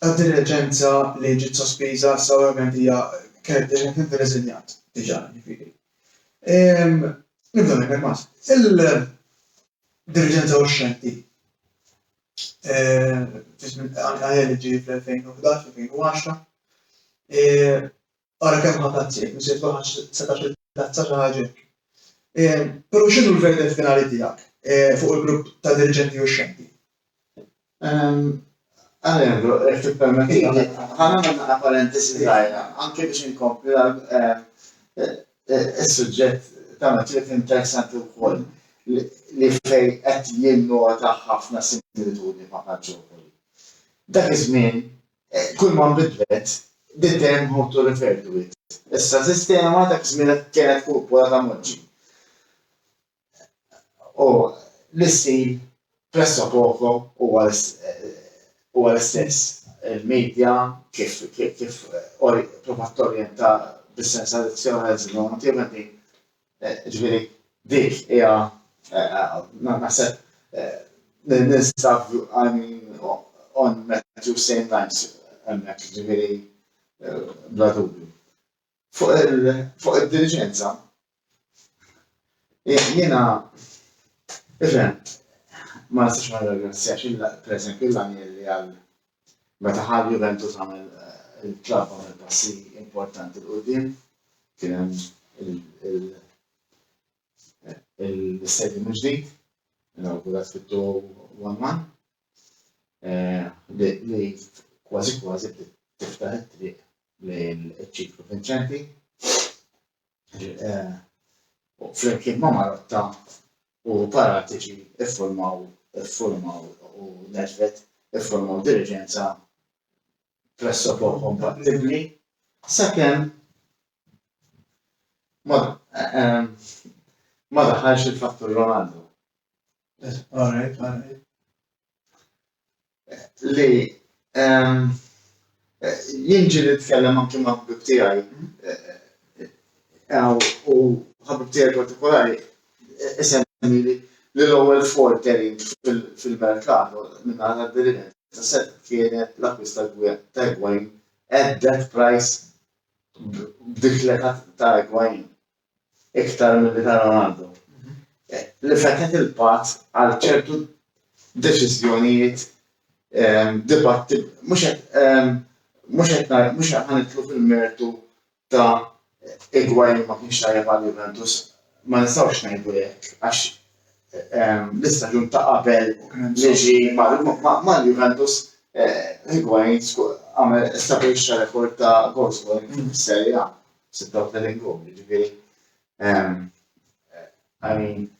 tad-diriġenza li ġiet sospiża issa ovvjament hija kienet diġà kienet irriżinjat diġà jiġifieri. Ehm, nibda minn hekk mas. Il-diriġenza uxxenti eh, għajja li ġie fl-2011-2010 Ara kemm ħa tazzi jekk missier tkun ħadt setax-il tazza xi ħaġa hekk. Però x'inhu l-verditt finali tiegħek fuq il-grupp ta' diriġenti uxxenti? Alejandro, jekk tippermettili, ħa nagħmel daqqa parentesi żgħira anke biex inkompli is-suġġett ta' Matthew kien interessanti wkoll li fejn qed jinnota ħafna similitudni ma' Calciopoli. Dak iż-żmien kull ma nbidlet, din dejjem ħuttu refer to it. Issa sistema dak iż-żmien kienet kupola ta' moġġi. U l-istil presso poco huwa huwa l-istess. Il-medja kif kif provat torjenta bis-sens addizzjonali żmien Ġifieri dik hija naħseb ninsab I mean on Matthew same lines hemmhekk ġifieri bla dubju. Fuq id-diliġenza jiena tifhem ma nistax ma nirringrazzjax pereżempju lill-Anjeli għal Meta ħa l-Juventus għamel il-klabb għamel passi importanti 'l quddiem, kien hemm l-istadium il-ġdid, inawgurat fit-2001, li kważi kważi bdiet tiftaħ it-triq lejn iċ-ċiklu vinċenti. Flimkien ma' Marotta u Paratiċi ffurmaw ffurmaw u Nedvet ffurmaw diriġenza pressopok kompattibbli sakemm ma ma daħalx il-fattur Ronaldo. All right, all right. li ehm, jien ġiri nitkellem anki ma' ħbib tiegħi u ħabib tiegħi partikolari isemmi li l-ewwel fortering fil-merkato minn għal derinet ta' set kienet l-akkwist ta' Egwajn at that price b'diklet ta' Egwajn. iktar milli ta' Ronaldo, li fetħet il-patt għal ċertu deċiżjonijiet dibatti, mhux qed mhux qed ħa nidħlu fil-mertu ta' Higuain li ma kienx tajjeb għal Juventus, ma nistgħux ngħidu hekk għax l-istaġun ta' qabel li ġie mal-Juventus Higuain għamel stabbilixxa rekord ta' goals scoring fis-Serie A. 36 jum, jiġifieri I mean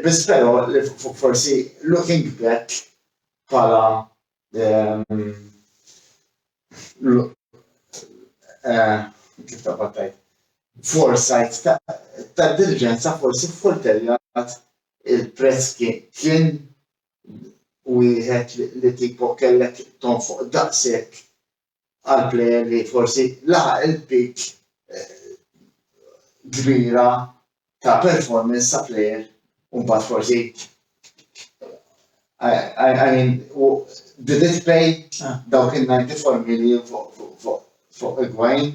biss però li forsi looking back bħala eh, kif ta' battajt foresight ta' diligenza forsi f'kulterjat il-prezz kien wieħed li tipo kellek tonfoq daqshekk għal plejer li forsi laħaq il-pitch kbira ta' performance ta' plejer un bat forsi I mean, did it pay dawk il-94 million fuq il-gwajn?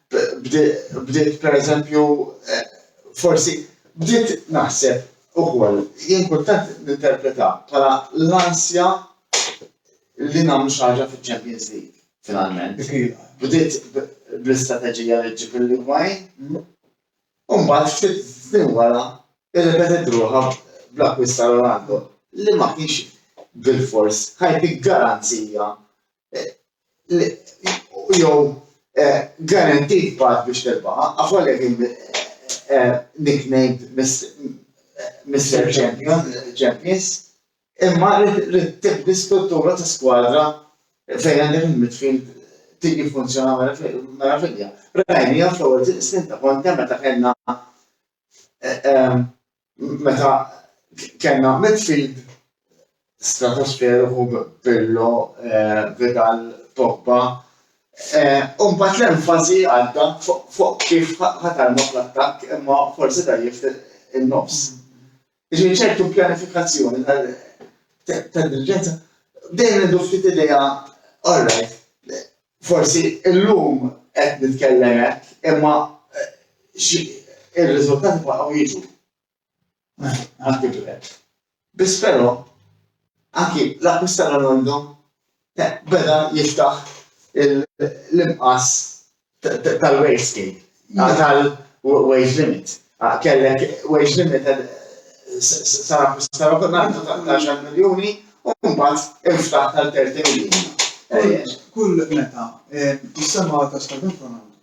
bdiet per eżempju, eh, forsi, bdiet naħseb ukoll, jien kultant ninterpreta bħala l-ansja li nagħmlu xi ħaġa fiċ-Champions League, finalment. Bdiet bl-istrateġija li ġib il-Ligwajn, mm. u mbagħad ftit snin wara irrepetet ruħha bl-akkwista Ronaldo li ma kienx bil-fors ħajti garanzija jew guaranteed path biex tirbaħha, af għalhekk nicknamed Mister Champions, imma rrid tibni struttura ta' skwadra fejn għandek il-midfield tiġi jiffunzjona meravilja. Rajniha fl-ewwel snin ta' Conte meta kellna meta kellna midfield stratosferu fuq Pirlo, eh, Vidal, Pogba, eh, u mbagħad l-enfasi għadda fuq kif ħatarna fl-attakk imma forsi dajjef in-nofs. Ġifieri ċertu pjanifikazzjoni ta' diriġenza dejjem għandu ftit idea all right Forsi illum qed nitkellem hekk, imma ir-riżultati baqgħu jiġu. Biss però anki l-akkwist ta' Ronaldo beda jiftaħ l-imqas tal-wastegate. Għal wage limit. Kellek wage limit eh, sara sara kunantu ta' 10 miljoni u mbagħad inftaħ tal 30 miljoni. Eh, kull meta eh, jissemma ta' stadin kunantu.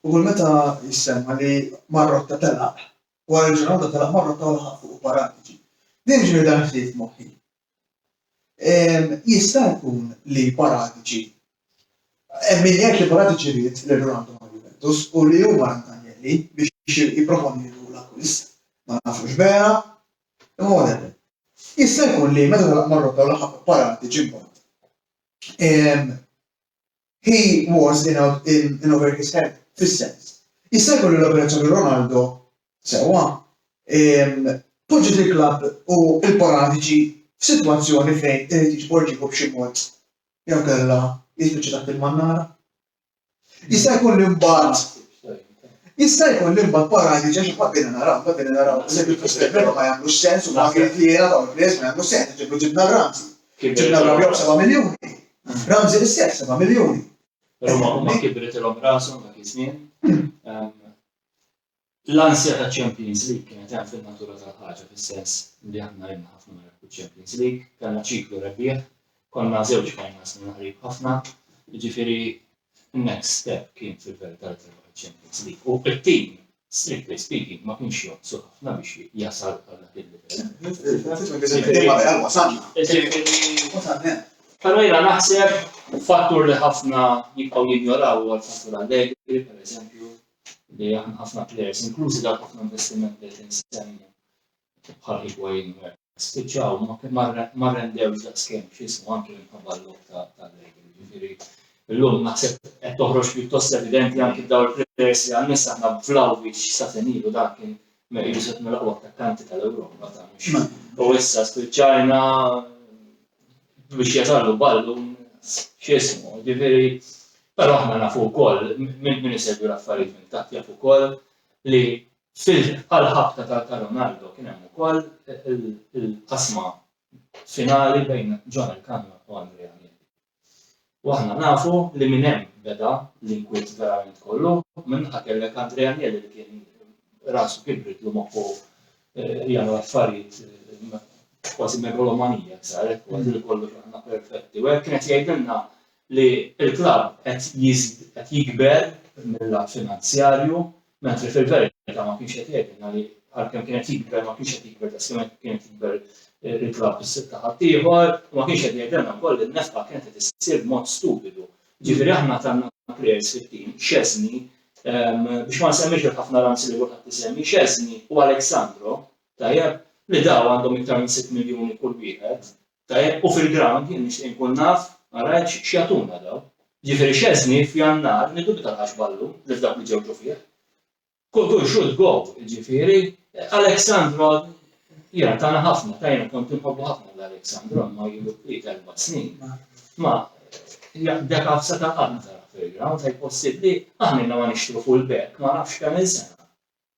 U kull meta jissemma li marrotta telaq, wara l-ġurnata telaq marrotta u l-ħaqqu u paratiġi. Din ġiri dan ħsieb moħħi. Jista' jkun li Paratici, hemm min jgħid li Paratici ried lil Ronaldo ma' Juventus u li hu wara Agnelli biex jipproponilu l-akkwist. Ma nafux vera, imma whatever. Jista' jkun li meta telaq mar-Rota u laħaq Paratici mbagħad, He was in out in in over his head, fis-sens. Jista' jkun li l-operazzjoni Ronaldo, sewwa, ehm, poġġiet il-klabb u l-Paratiċi f'sitwazzjoni fejn irid jiġborġieħu b'xi mod jew kellha jispiċċa taħt il-mannara. Jista' jkun li mbagħad Jista' jkun li mbagħad Paratiċi għax imbagħad bdejna naraw, imbagħad bdejna naraw eżempju fl-Istevero ma jagħmlux sens u ma kien li jiena dawn il-players ma jagħmlux sens, ġibna Ramsey. Ġibna l-Arabjaw b'seba' miljuni. Ramsey l-istess, seba' miljuni. Però ma huma kibriltilhom rashom dak iż-żmien. L-ansja taċ-Champions League kienet hemm fin-natura tal-ħaġa fis-sens li aħna ilna ħafna ma nerbħux Champions League, kellna ċiklu rebbieħ, konna żewġ finals minna qrib ħafna, jiġifieri Next step kien fil-verità li terbaħ iċ-Champions League u t-tim, strictly speaking, ma kienx jonqsu ħafna biex jasal għal dak il-livell. Però jiena naħseb fattur li ħafna jibqgħu jinjoraw huwa l-fattur Allegri, pereżempju, li aħna ħafna players, inklużi dawk ħafna investiment li qed insemmi bħal Higuain u hekk. spiċċaw ma rrendewx daqskemm x'ismu anki minħabba l-logħob tal-lejl. Jiġifieri llum naħseb qed toħroġ pjuttost evidenti anki f'daw il-players li għan-nies aħna Vlahovic sa senilu dan kien meqidu set mill-aqwa attakkanti tal-Ewropa ta' u issa spiċċajna biex jatallu ballu x'ismu. Jiġifieri però aħna nafu wkoll minn isegwi l-affarijiet minn taħt jafu wkoll li Fil-ħ bħal ħabta ta' ta' Ronaldo kien hemm ukoll il-qasma finali bejn John Elkann u Andrea Agnelli. U aħna nafu li minn hemm beda l-inkwiet verament kollu, minn naħa kellek Andrea Agnelli li kien rasu kibritlu moħħu jagħmel affarijiet kważi megalomanijak saret kważi li kollox aħna perfetti u hekk kien qed jgħidilna li l-klabb qed jikber mill-lat finanzjarju Mentri fil-verità ma kienx qed jgħidilna li għalkemm kien qed jikber ma kienx qed jikber daqskemm qed kien qed jikber il-klabb ta' ħaddieħor u ma kienx qed jgħidilna wkoll li n-nefqa kienet qed issir b'mod stupidu. Ġifieri aħna kellna plejers fit-tim, Szczesny, biex ma nsemmix dak ħafna ramsi li kulħadd isemmi, Szczesny u Aleksandro, tajjeb, li daw għandhom iktar minn sitt miljuni kull wieħed, Tajjeb u fil-ground jien nixtieq nkun naf ma rajtx x'jagħtuna daw. Jiġifieri Szczesny f'Jannar niddubita li ħax ballu li f'dawk li ġew ġu fih. Kultur should go, jiġifieri Alex Sandro jiena tana ħafna, ta jiena kont inħobbu ħafna lil Alex Sandro imma ilu kwiet erba' snin. Ma dak Afsa ta' qatt ma taraħ fil-ground, ej possibbli? Aħna ilna ma nixtru full back ma nafx kemm-il sena.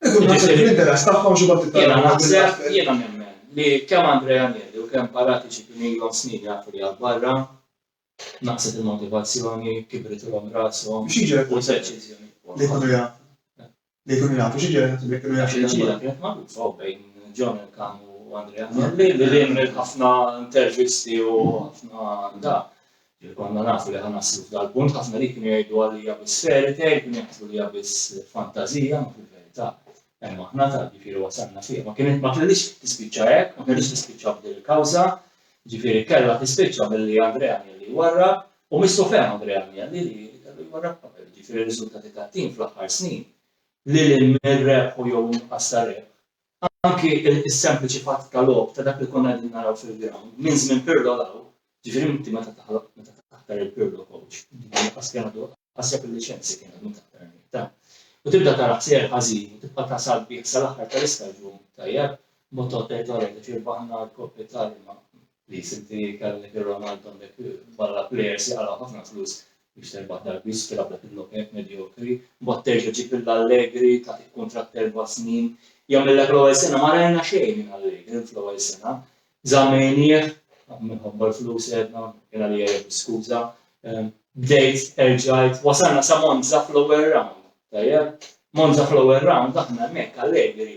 Ikun naħseb fl-interess tagħhom xi wħud iktar. Jiena naħseb, jiena nemmen li kemm Andrea Agnelli u kemm Paratici kienu ilhom snin jafu li għall-barra, naqset il-motivazzjoni, kibritulhom rashom. Xi jiġri jekk li jkunu jafu? Li jkunu jafu, xi jiġri jekk li jkunu jafu? Il-ġiela kienet magħrufa u bejn John Elkann u Andrea Agnelli li lien mill-ħafna intervisti u ħafna da. Li konna nafu li ħa naslu f'dal-punt, ħafna li kienu jgħidu għalija biss fairy tale, kienu jaħsbu li hija biss fantażija, imma fil-verità hemm aħna ta' ġifieri wasalna fiha. Ma kienet ma kellix tispiċċa hekk, ma kellix tispiċċa f'din il-kawża, ġifieri kellha tispiċċa billi Andrea Agnelli jwarrab u missu fehem Andrea Agnelli li kellu jwarrab qabel, ġifieri r-riżultati tat-tim fl-aħħar snin lil hinn mir-rebħ u jew inqas ta' rebħ Anki s-sempliċi fatt ta' logħob ta' dak li konna qegħdin naraw fil-ground, minn żmien Pirlo 'l hawn, ġifieri inti meta taħtar il-Pirlo coach, dak li kien għadu ħaseb li Chelsea kien għadu mill-aħħar Unità, u tibda tara ħsejjer ħażin u tibqa' tasal bih sal-aħħar tal-istaġun, tajjeb, b'mod tgħod tgħid, Ora, ġifieri rbaħna l-Coppa Italia ma, li sinti kellhom idirhom għandhom dak barra plejers li qalaw ħafna flus biex terbaħ darbis tilgħab dak il-nokek medjokri, mbagħad terġa' ġib lil Allegri tagħtik kuntratt erba' snin, jagħmillek l-ewwel sena ma rajna xejn minn Allegri fl-ewwel sena, żammejnieh minħabba l-flus għedna, kien għalija jgħid skuża, ehm, bdejt erġajt, wasalna sa Monza fl-ewwel round, tajjeb, Monza fl-ewwel round aħna hemmhekk Allegri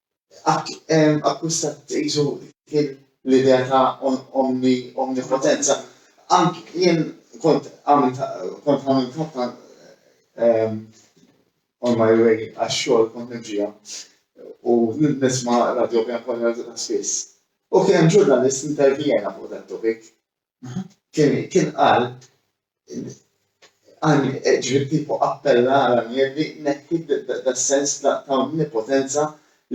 akkwistat qisu kien l-idea ta' omni omnipotenza. Anki jien kont għamilt kont għamilt ħafna on my way għax-xogħol kont nimxija u nisma' radio Pjan Kolja spiss. U kien hemm ġurnalist intervjena fuq dat-topic kien qal ġifieri kieku appella għal Agnelli jneħħi das-sens ta' onnipotenza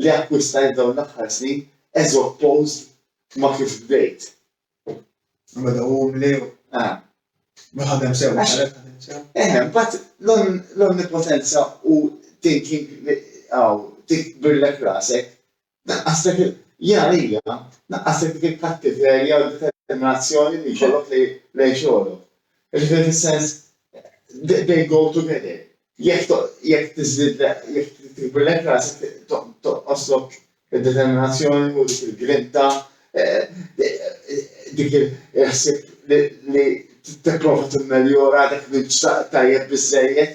li akkwistajt f'dawn l-aħħar snin as opposed ma' kif bdejt. Beda umli u ma ħadem sew. Eħe, imbagħad l-onnipotenza u thinking li hawn tikbirlek rasek Tnaqqaslek il-, ja hija, tnaqqaslek dik il-kattiverja u d-determinazzjoni li jkollok lejn xogħlok. Jiġifieri fis-sens, they go together. Jekk jekk tiżdidlek, jekk tikbirlek rasek tonqoslok id-determinazzjoni u dik il-grinta, dik il-ħsieb li tipprova timmeljora dak li mhux tajjeb biżżejjed,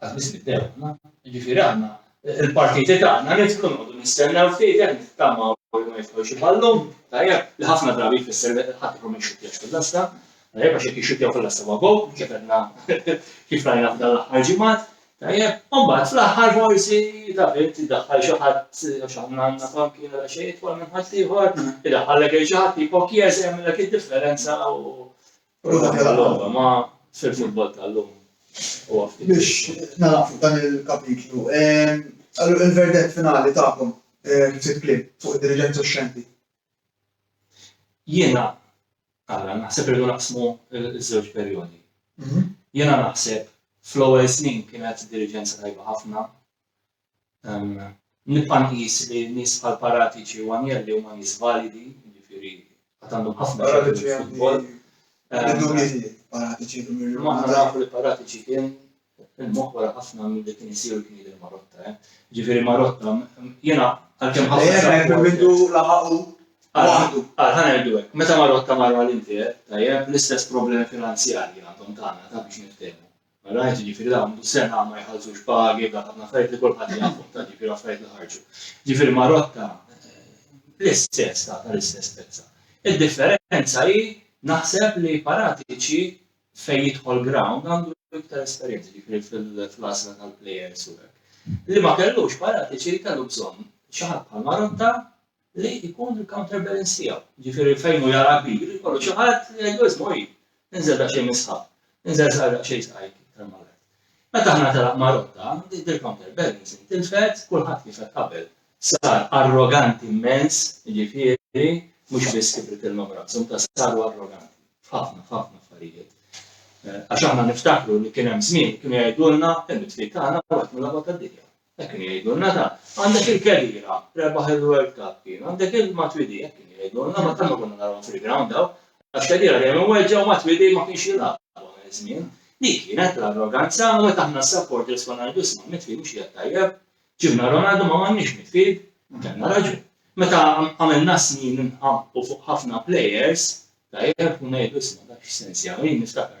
Għad biss nibdew aħna, jiġifieri aħna l-partiti tagħna nidħlu noqogħdu nistennew ftit hemm nittamaw li ma jidħol xi ballun, tajjeb, li ħafna drabi jfisser li ħadd ikun ma jxuttjax fil-lasta, tajjeb għax jekk jixxuttjaw fil-lasta ma' gow, kif għedna kif rajna f'dan l-aħħar ġimgħat, tajjeb, u mbagħad fl-aħħar forsi taf int idaħħal xi ħadd għax aħna għandna fanki għal xejn jitwal minn ħadd ieħor, idaħħallek il xi ħadd jipokjes jagħmilek id-differenza u Ma sir futbol tal-lum. Biex narafu dan il-kapitlu. Għallu il-verdet finali ta'kom, ftit klim, fuq il-dirigenza u xenti. Jena, għalla, naħseb irridu naqsmu il-żewġ perjodi. Mhm. Jena naħseb fl-ewwel snin kienet dirigenza tajba ħafna, Nibqa' nqis li nies bħal Paratici u Agnelli huma nies validi, jiġifieri għad għandhom ħafna x'jagħmlu fil-futbol. Imma aħna nafu li Paratici kien il-moħħ wara ħafna milli kien isir u kien jidher Marotta. Eh. Jiġifieri Marotta jiena għalkemm ħafna. Għalħan għajdu għek, meta marru għatta marru għal-intier, tajjeb, l-istess problemi finanzjarji għandhom tagħna ta' biex niftehmu. All right, jiġifieri dawn sena ma jħallsux pagi, dawn ħafna affarijiet li kulħadd jafhom tant jiġifieri affarijiet li ħarġu. Jiġifieri Marotta l-istess ta' tal-istess pezza. Id-differenza hi naħseb li Paratici fejn jidħol ground għandu iktar esperjenza ġifieri fil-għażla tal-plejers u hekk. Li ma kellux Paratici li kellu bżonn xi ħadd bħal Marotta li jkun il-counterbalance tiegħu. Jiġifieri fejn hu jara kbir, ikollu xi ħadd li jgħidlu isma' hi, inżel daqsxejn mis-sħab, inżel żgħar daqsxejn sqajk iktar malajr. Meta aħna telaq ma' rotta, dik il-counterbalance intilfet, kulħadd kif qed qabel sar arroganti immens, jiġifieri mhux biss kibritillhom rashom, ta' saru arroganti f'ħafna f'ħafna affarijiet. Għax aħna niftakru li kien hemm żmien kienu jgħidulna il-mitfit tagħna waħed mill-aqwa tad-dinja. Hekk kienu jgħidulna dan. Għandek il-kerriera, rebaħ il-World Cup kien, għandek il-Matuidi, hekk kienu jgħidulna, ma tant ma konna narahom fil-ground daw, għax kerriera dejjem imweġġa' u Matuidi ma kienx jilgħab dawn iż-żmien. Dik kienet l-arroganza u meta aħna s-supporters konna ngħidu isma' midfield mhux qiegħed tajjeb, ġibna Ronaldo ma m'għandniex midfield, kellna raġun. Meta għamilna snin inqam u fuq ħafna players, tajjeb, u ngħidu isma' dak x'sens jagħmel, jien niftakarni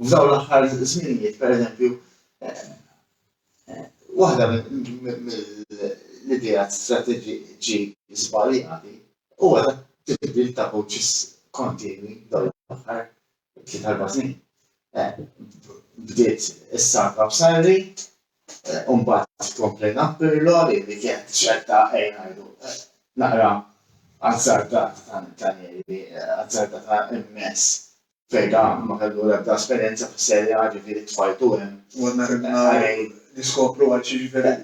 U f'dawn l-aħħar żminijiet, pereżempju, waħda mill-ideat strateġiċi żbaljati huwa dak tibdil ta' coaches kontinwi dawn l-aħħar tliet erba' snin. Bdiet is-saga b'Sarri, u mbagħad tkomplejna b'Pirlo li kienet ċerta ejja ngħidu naqra azzardata ta' Ranieri, azzardata immens fejn dan ma kellu l-ebda esperjenza fis-Serie A, ġifieri tfajtu hemm. U għandna ridna niskopru għal xi ġifieri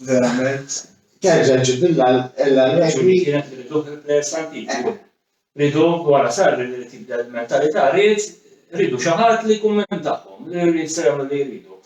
verament. Terġa' ġġib l-Allegri. Kienet li riduh il-plejers antiki. Riduh wara Sarri li rid jibdel il-mentalità, ried ridu xi ħadd li jkun minn tagħhom, li jistgħu jagħmlu li jridu.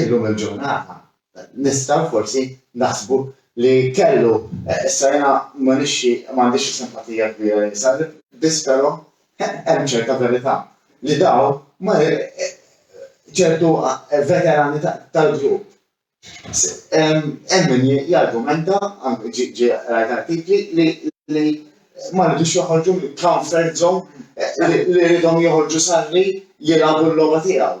Illum il-ġurnata nistgħu forsi naħsbu li kellu. Issa jiena ma nixxi m'għandix simpatija kbira lejn Salib, biss però hemm ċerta verità li dawn ma ċertu veterani tal-grupp hemm min jargumenta, ġie qrajt artikli li li ma ridux joħorġu mill-comfort zone li ridhom joħorġu Sarri jilagħbu l-logħba tiegħu.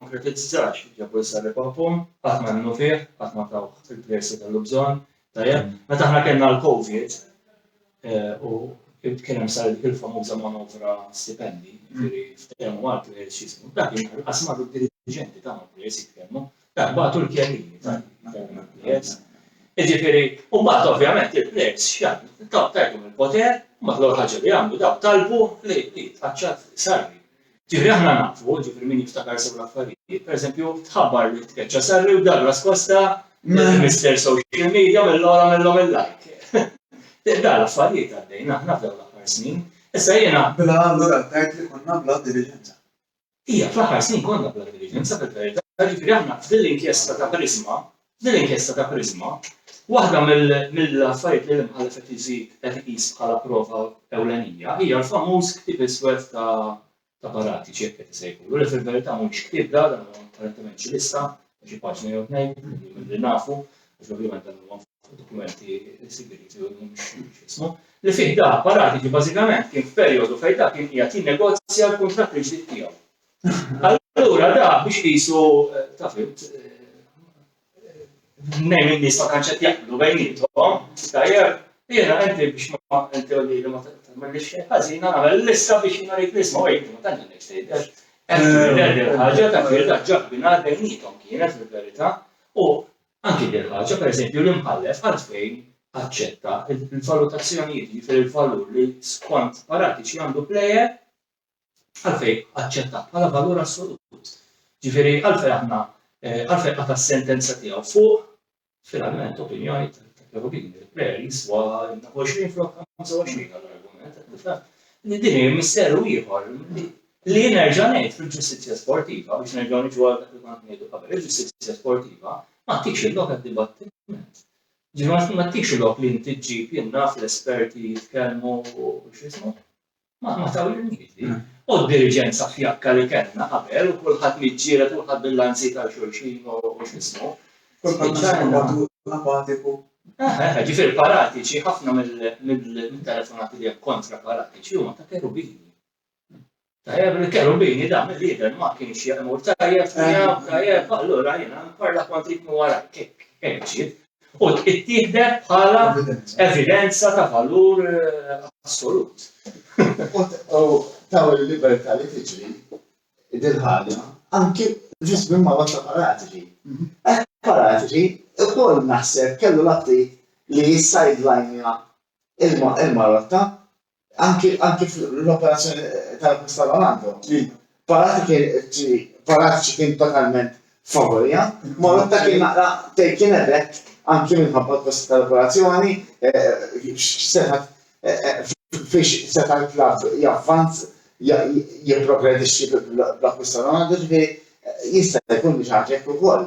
Ma kritizzax il-Jabul Sarri Papon, qatt ma emmnu fih, qatt ma tawh il-plejers li kellu bżonn. Tajjeb, meta aħna kellna l-Covid u kien hemm saret dik il-famuża manovra stipendi, jiġifieri ftehmu mal-plejers x'jisimgħu, dak il-nhar l-qas marru d-diriġenti tagħna l-plejers jitkellmu, dak bagħtu l-kjellini ta' jitkellmu mal-plejers. Jiġifieri, u mbagħad ovvjament il-plejers x'jagħmlu? Tgħidhom il-poter, mbagħad l-ewwel ħaġa li għamlu dawk talbu li jitħaċċat Sarri. Ġifieri aħna nafu, ġifieri min jiftakar sew l-affarijiet, pereżempju tħabbar li tkeċċa Sarri u Douglas Costa, Mister Social Media, għamillhom għamillhom il-like. Dawn l-affarijiet għaddejn aħna f'dawn l-aħħar snin. Issa jiena. Mela allura tgħid li konna bla diliġenza. Ija, fl-aħħar snin konna bla diliġenza fil-verità, ġifieri aħna f'din l-inkjesta ta' Prisma F'din l-inkjesta ta' Prisma, waħda mill-affarijiet li l-Imħallef qed iżid qed iqis bħala prova ewlenija hija l-famuż ktieb iswed ta' ta' Paratici, hekk qed isejħulu, li fil-verità mhuwiex ktieb da, dan huwa apparentement xi lista ta' xi paġna jew tnejn, milli nafu, għax ovvjament dan huwa dokumenti sigrieti u mhux x'ismu, li fih da, Paratici bażikament kien f'perjodu fejn da kien qiegħed jinnegozja l-kuntratt il-ġdid tiegħu. Allura da biex qisu ta' fimt nejn in-nies ma tantx qed jaqblu bejniethom, tajjeb, jiena inti biex ma inti u lili ma tagħmellix xejn ħażin nagħmel lista biex jiena rrid nisma' u inti ma tantx għandek x'tgħid għax qed tgħidilha din il-ħaġa ta' firda ġaħbinha bejniethom kienet fil-verità u anki din il-ħaġa pereżempju l-imħallef għalfejn aċċetta l-valutazzjonijiet jiġifieri l-valur li skont Paratici għandu plejer għalfejn aċċettat bħala valur assolut. Ġifieri għalfejn aħna għalfejn qata' s-sentenza tiegħu fuq finalment opinjoni ta' Cherubini, il-plejer jiswa 20 flok 25 għall-argument, qed nifhem li din hi misteru ieħor li nerġa' ngħid fil-ġustizzja sportiva biex nerġgħu niġu għal dak li kont ngħidu qabel, il-ġustizzja sportiva ma tix il-lok għad-dibattiment. Ġifieri ma tix il-lok li inti ġġib jien naf l-esperti jitkellmu u x'ismu. Ma ma tawilniet din. U d-diriġenza fjakka li kellna qabel u kulħadd miġġieled u kulħadd bil-lanzi ta' xulxin u x'ismu. Kulħadd għax mod apatiku. Eħe, eħe, ġifieri paratiċi, ħafna mit-telefonati li hemm kontra paratiċi huma ta' kerubini. Tajjeb, il-kerubini da mill-jidher ma kienx jemur tajjeb, tajjeb, tajjeb, allura jiena nparla kont rid minn warajk, hekk, hekk ġiet. u tittieħdet bħala evidenza ta' valur assolut. U taw il-libertà li tiġri dil-ħaġa anki ġust minn ma' ta' paratiġi. Ek paratiġi ukoll naħseb kellu l-aptit li jissajdlajnja il-marotta anki anki fl-operazzjoni tal-Costa Ronaldo, li paratiċi kien totalment favorija, Marotta kien naqra taken aback anki minħabba l-kosti tal-operazzjoni, x'setat fiex seta' l-klabb javvanz jipprogredixxi bl-Costa Ronaldo, ġifieri jista' jkun li xi ħaġa hekk ukoll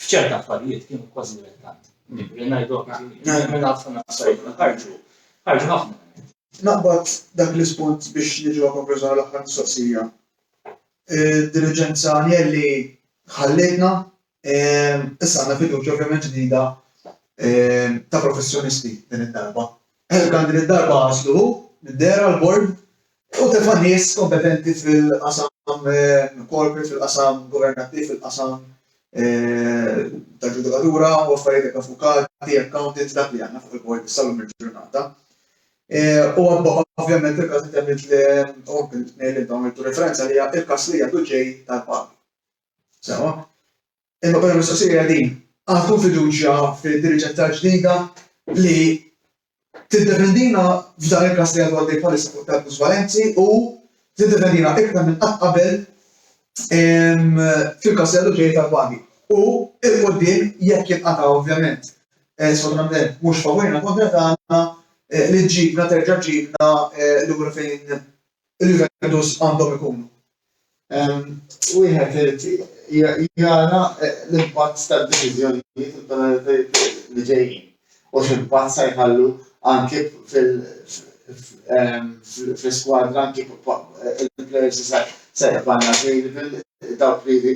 f'ċerti affarijiet kienu kważi rettati. Li ngħidu minn ħafna nassajt ħarġu, ħarġu ħafna. Naqbad dak l-ispunt biex niġu għal konklużjoni l-aħħar mistoqsija. Diligenza Anjelli ħallitna, issa għandna fiduċja ovvjament ġdida ta' professjonisti din id-darba. Helkan din id-darba għażlu hu, minn dera l-bord, Fuq telf ta' nies kompetenti fil-qasam corporate, fil-qasam governattiv, fil-qasam tal-ġudikatura u affarijiet hekk avukati, accountants, dak li għandna fuq il-bord issa llum il-ġurnata. U ovvjament il-każ li temmilt li ngħidlek dawn il-referenza li hija il-każ li għadu ġej tal-pagi. Sewa? Imma bħala mistoqsija hija din, għandkom fiduċja fid-diriġenza ġdida li tiddefendina f'dan il-każ li għadu għaddej bħalissa fuq Takus Valenzi u tiddefendina iktar minn qatt qabel fil-każ li għadu ġej tal-pagi. U il-qudiem jekk jinqata' ovvjament eh, sfortunatament mhux favorina kontra tagħna eh, li ġġibna terġa' ġġibna eh, lura fejn il-venues għandhom ikunu. Wieħed irid jara l-impatt tad-deċiżjonijiet u tal-għalitajiet li ġejjin u x'impatt se jħallu anke fl-iskwadra anke il-players li se jibqgħu available dawk li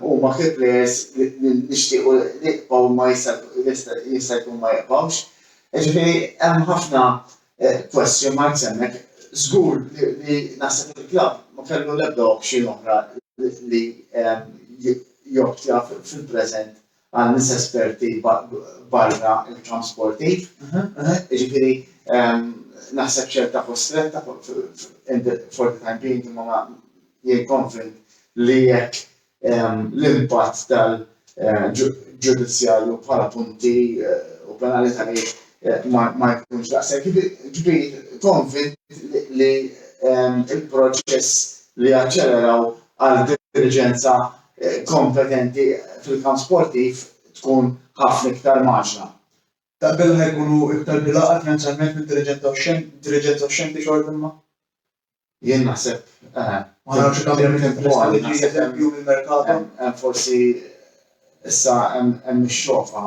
huma key players li nixtiequ li jibqgħu imma jista' jkun ma jibqgħux. Jiġifieri hemm ħafna Question marks hemmhekk. Żgur li naħseb li l-klabb ma kellu l-ebda option oħra li joptja fil-preżent għal nies esperti barra l-kamp sportiv. Jiġifieri naħseb ċerta kostretta for the time being imma jien konvint li jekk l-impatt tal-ġudizzjarju bħala punti u penalitajiet ma jkunx daqshekk kbir, konvint li l-proċess li jaċċeleraw għal diriġenza kompetenti fil-kamp sportiv tkun ħafna iktar mgħaġġla. Taf billi ħa jkunu iktar bilgħaqal finanzjalment mid-diriġenza u x-xenti xortimma? Jien naħseb. Ma nafx jekk hawn hemm temporali, xi eżempju mill-merkato. Hemm forsi issa hemm ix-xofa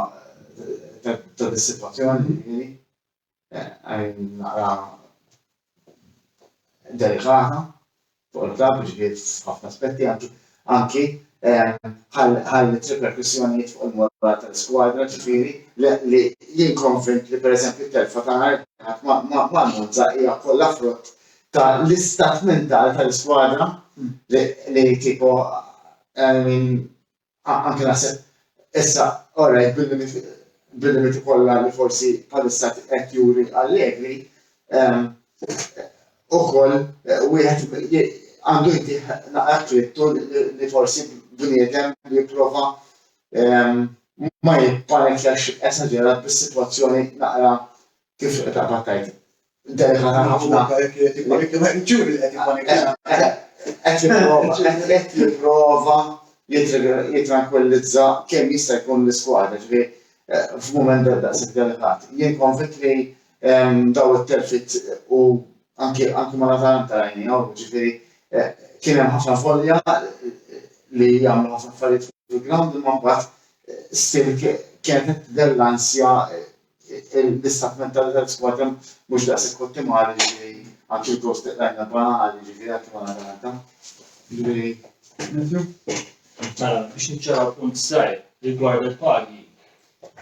ta' dis-sitwazzjoni, jiġifieri. Qegħdin naqra delikata fuq il-klabb, jiġifieri f'ħafna aspetti anki. anki għal riperkussjonijiet fuq il-moral tal-iskwadra, ġifieri li jien konvint li pereżempju t-telfa ta' nhar il-Ħadd ma' Monza hija kollha frott ta' l-istat mentali tal-iskwadra li tipo anke naħseb issa orajt bil-limiti kollha li forsi bħalissa qed juri Allegri, ukoll wieħed għandu jdih naqra trittu li forsi bniedem li jipprova ma jippanikjax esaġerat bis-sitwazzjoni naqra kif taqbad tgħid delikata ħafna. Qed jipprova jittrankwillizza kemm jista' jkun l-iskwadra, ġifieri f'mument daqshekk delikat. Jien konvint li daw it-telfit u anki anki ma natalan tarajni għaw, ġifiri, eh, kien hemm ħafna folja eh, li jagħmlu ħafna affarijiet fil-ground imma mbagħad eh, stil kienet della ansja l-istat mentali tal-squad hemm mhux daqshekk ottimali ġifieri anki l-gost rajna banali ġifieri anki ma natalan ġifieri. Mela, biex niċċaraw punt sajr rigward il-pagi,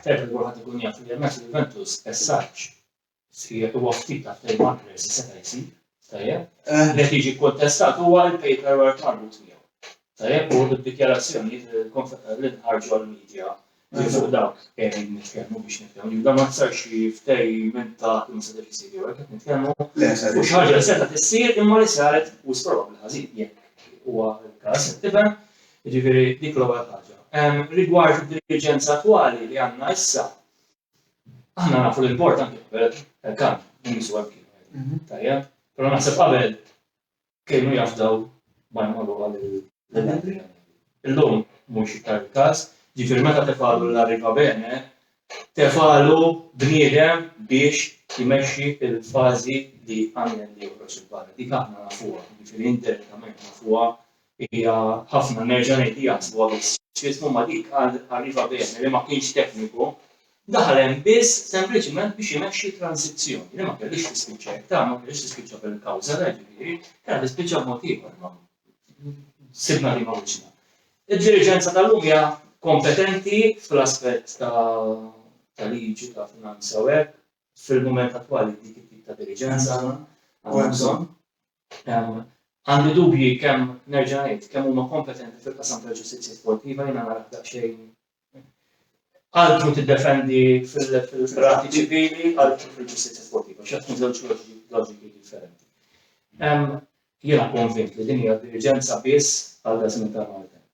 Tajjeb li kulħadd ikun jaf li l-match Juventus Pessaġġ sħiħ huwa ftit ta' ftehim ma' Andres seta' jsir, tajjeb. Eh. Li qed jiġi kkontestat huwa il-paperwork marbut miegħu. Tajjeb u d-dikjarazzjonijiet li nħarġu għall-medja li fuq dawk qegħdin nitkellmu biex nitkellmu. Jibda ma tsarx ftehim minn ta' kemm seta' jsir jew hekk qed nitkellmu. U xi ħaġa li seta' tissir imma li saret u probabbli ħażin jekk huwa l-każ qed tifhem. Jiġifieri dik l-ewwel ħaġa. Rigward id-diriġenza attwali li għandna issa, aħna nafu li l-bord anke qabel kan nisu hemm kienu. Tajjeb, però naħseb qabel kienu jafdaw ma jmorru għal il-membri. Illum mhux iktar il-każ, ġifieri meta tefalu l-arriva bene, tefalu bniedem biex jmexxi il-fażi li għamel li joħroġ il-barra. Dik aħna nafuha, ġifieri indirettament nafuha Hija ħafna, nerġa' ngħid li jaħsbuha biss f'ismu ma' dik għal Arriva Bene li ma kienx tekniku, daħal hemm biss sempliċiment biex imexxi transizzjoni li ma kellhiex tispiċċa hekk, ta' ma kellhiex tispiċċa bil-kawża ta' Ġifieri, kellha tispiċċa b'mod ieħor imma sibna liema wiċċna. Id-diriġenza tal-lum hija kompetenti fl-aspett ta' ta' liġi, ta' finanza u hekk, fil-mument attwali dik it-tip ta' diriġenza aħna għandna bżonn. Għandi dubji kemm, nerġa' ngħid, kemm huma kompetenti fil-qasam tal-ġustizzja sportiva, jiena narah daqsxejn altru tiddefendi fil-qrati ċivili, altru fil-ġustizzja sportiva, xi tkun żewġ loġiki differenti. Jiena konvint li din hija diriġenza biss għal dażmin tal-maltemp.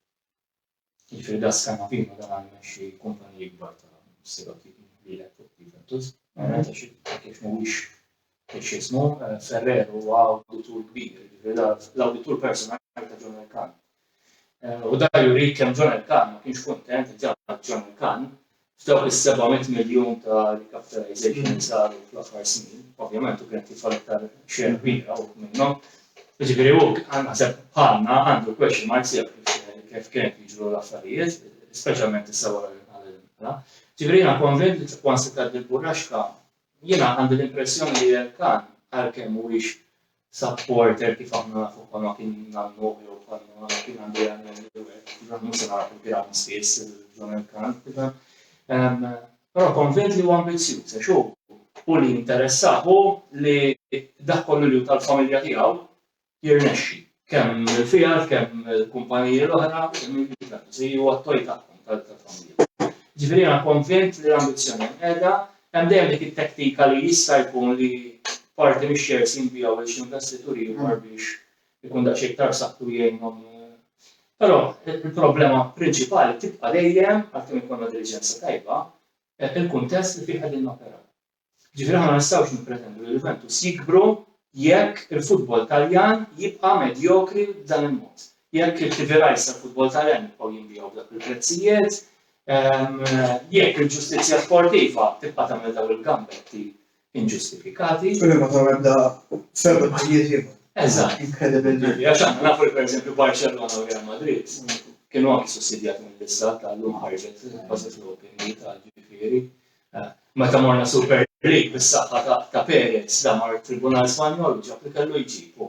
Jiġifieri da s-Scanapino da għandu jmexxi kumpaniji kbar ta' siroki lilek fuq Juventus. Verament għax kif mhuwiex x'ismu, Ferrer huwa awditur kbir, jiġifieri da l-awditur personali ta' John Elkann. U da jurik kemm John Elkann ma kienx kuntent li ġab John Elkann F'dawk is-seba' mitt miljun ta' recapitalization li saru fl-aħħar snin, ovvjament hu kien qed jidħol iktar share kbira hu minnhom. Jiġifieri hu naħseb bħalna għandu question marks jaf kif kien qed jiġru l-affarijiet, speċjalment issa wara li nqal il-mela. Ġifieri jiena konvint li once tgħaddi l-burraxka, jiena għandi l-impressjoni li l-kan għalkemm mhuwiex Supporter kif aħna nafu bħalma kien nannu jew bħalma kien għandu jagħmel l-iwed, kif aħna mhux se naraw fil-ground spiss dan il-kant, però konvint li huwa ambizzjuż għax hu u li interessah hu li dak kollu li hu tal-familja tiegħu jirnexxi kemm il-figħal, kemm il-kumpaniji l-oħra, kemm il-biżness, huwa t-toj tagħhom tal-familja. Ġifieri jiena konvint li l-ambizzjoni qiegħda Hemm dejjem dik it-tektika li jista' jkun li parti mix-shares jinbiegħu lil xi investitur ieħor biex ikun daqsxejn iktar b'saħħtu jgħinhom. Però il-problema prinċipali tibqa' dejjem, għalkemm ikollna diliġenza tajba, il-kuntest li fih qegħdin noperaw. Jiġifieri aħna ma nistgħux nippretendu li l-Juventus jikbru jekk il-futbol Taljan jibqa' medjokri b'dan il-mod. Jekk il-KPIs tal-futbol Taljan jibqgħu jinbiegħu b'dawk il-prezzijiet, Jekk il-ġustizzja sportiva tibqa' tagħmel dawn il-gambetti inġustifikati. Tkun hemm ta' ebda f'ebda pajjiż ieħor. Eżatt. Inkredibbli. Għax aħna nafu li pereżempju Barcelona u Real Madrid kienu anki sussidjati mill-istat tal-lum ħarġet bażi flopping li tal ġifieri. Meta morna Super League bis-saħħa ta' Perez da mar tribunal Spanjol ġab li kellu jġibu.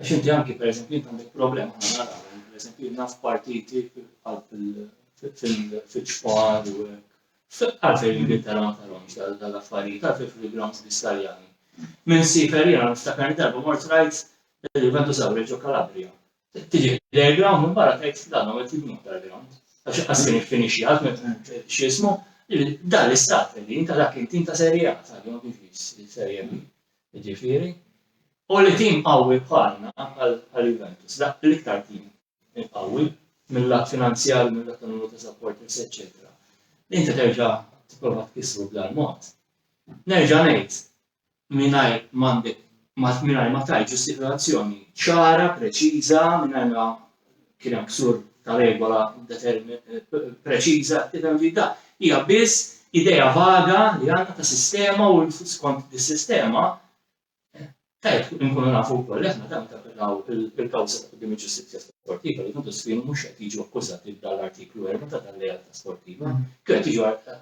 Għax inti anki pereżempju int għandek problema aħna naraw, pereżempju jien naf partiti qalb fil-ġfar u hekk. Għalfejn l-Ingilterra ma tarhomx dal-affarijiet, għalfejn fil-grounds Biskarjani. Minn sifer jiena niftakar li darba mort rajt il-Juventus eh, Awreġo Kalabria. Tiġi lejn ground minn barra tgħid dan għamel tibnu tal-ground. Għax qas kien iffinixxi għad meta eh, x'ismu, dan l-istaff li inta dak inti inta serje għad tal-jom il-serje Jiġifieri, u li tim qawwi bħalna, bħal Juventus, l-iktar tim qawwi mil-lat finanzjarju, mil-lat ta' numru ta' supporters eċċetera, li inti terġa' tipprova tkissru b'dal-mod, nerġa' ngħid, mingħajr m'għandek, mingħajr ma tgħid ġustifikazzjoni ċara, preċiża, mingħajr ma kien hemm ksur ta' regola preċiża, determinata, hija biss idea vaga li għandna ta' sistema u skont dis-sistema tajjeb inkunu nafu wkoll aħna dan tappellaw il-kawża ta' qudiem il-ġustizzja sportiva li kontu sfinu mhux qed jiġu akkużati b'dal-artiklu 4 ta' tal-lealtà sportiva, kienu qed jiġu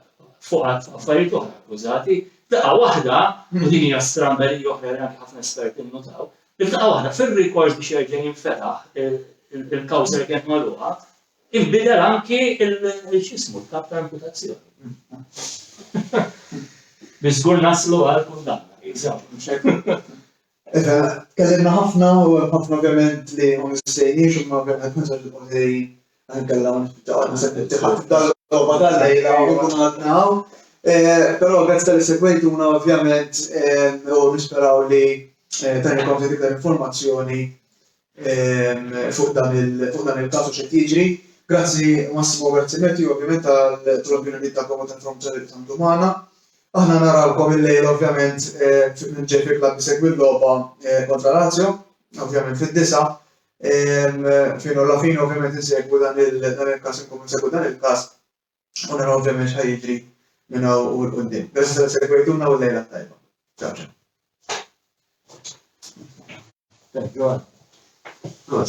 fuq affarijiet oħra akkużati, daqqa waħda, u din hija stramba li oħra li anke ħafna esperti nnutaw, F'daqqa waħda, fir-rikors biex jerġa' jinfetaħ il-kawża li kienet magħluqa, inbidel anki l-x'ismu, l-kap ta' imputazzjoni. Biex żgur naslu għal kundanna, insomma. Iva, tkellimna ħafna u hemm ħafna ovvjament li ma missejniex imma ovvjament naħseb li l-Qorti Nkella ma se tibti ħadd dal-logħba tal-lejla u nkun għadna hawn. Però grazzi tal segwejtuna ovvjament u nisperaw li tajna konti iktar informazzjoni fuq dan il-każ u xi jiġri. Grazzi Massimo, grazzi Matthew ovvjament tal-opinjonijiet tagħkom u tal-informazzjoni li qsamtu magħna. Aħna narawkom il-lejla ovvjament fil-Ġej fil-Klabb isegwi l-logħba kontra Lazio, ovvjament fid-disgħa. Fin u la fin ovvjament insegwu dan il-każ, inkunu insegwu dan il-każ, u naraw ovvjament ħajġri minn hawn u l-qudiem. Grazzi tal segwejtuna u lejla tajba. Ciao ciao. Thank you. Good.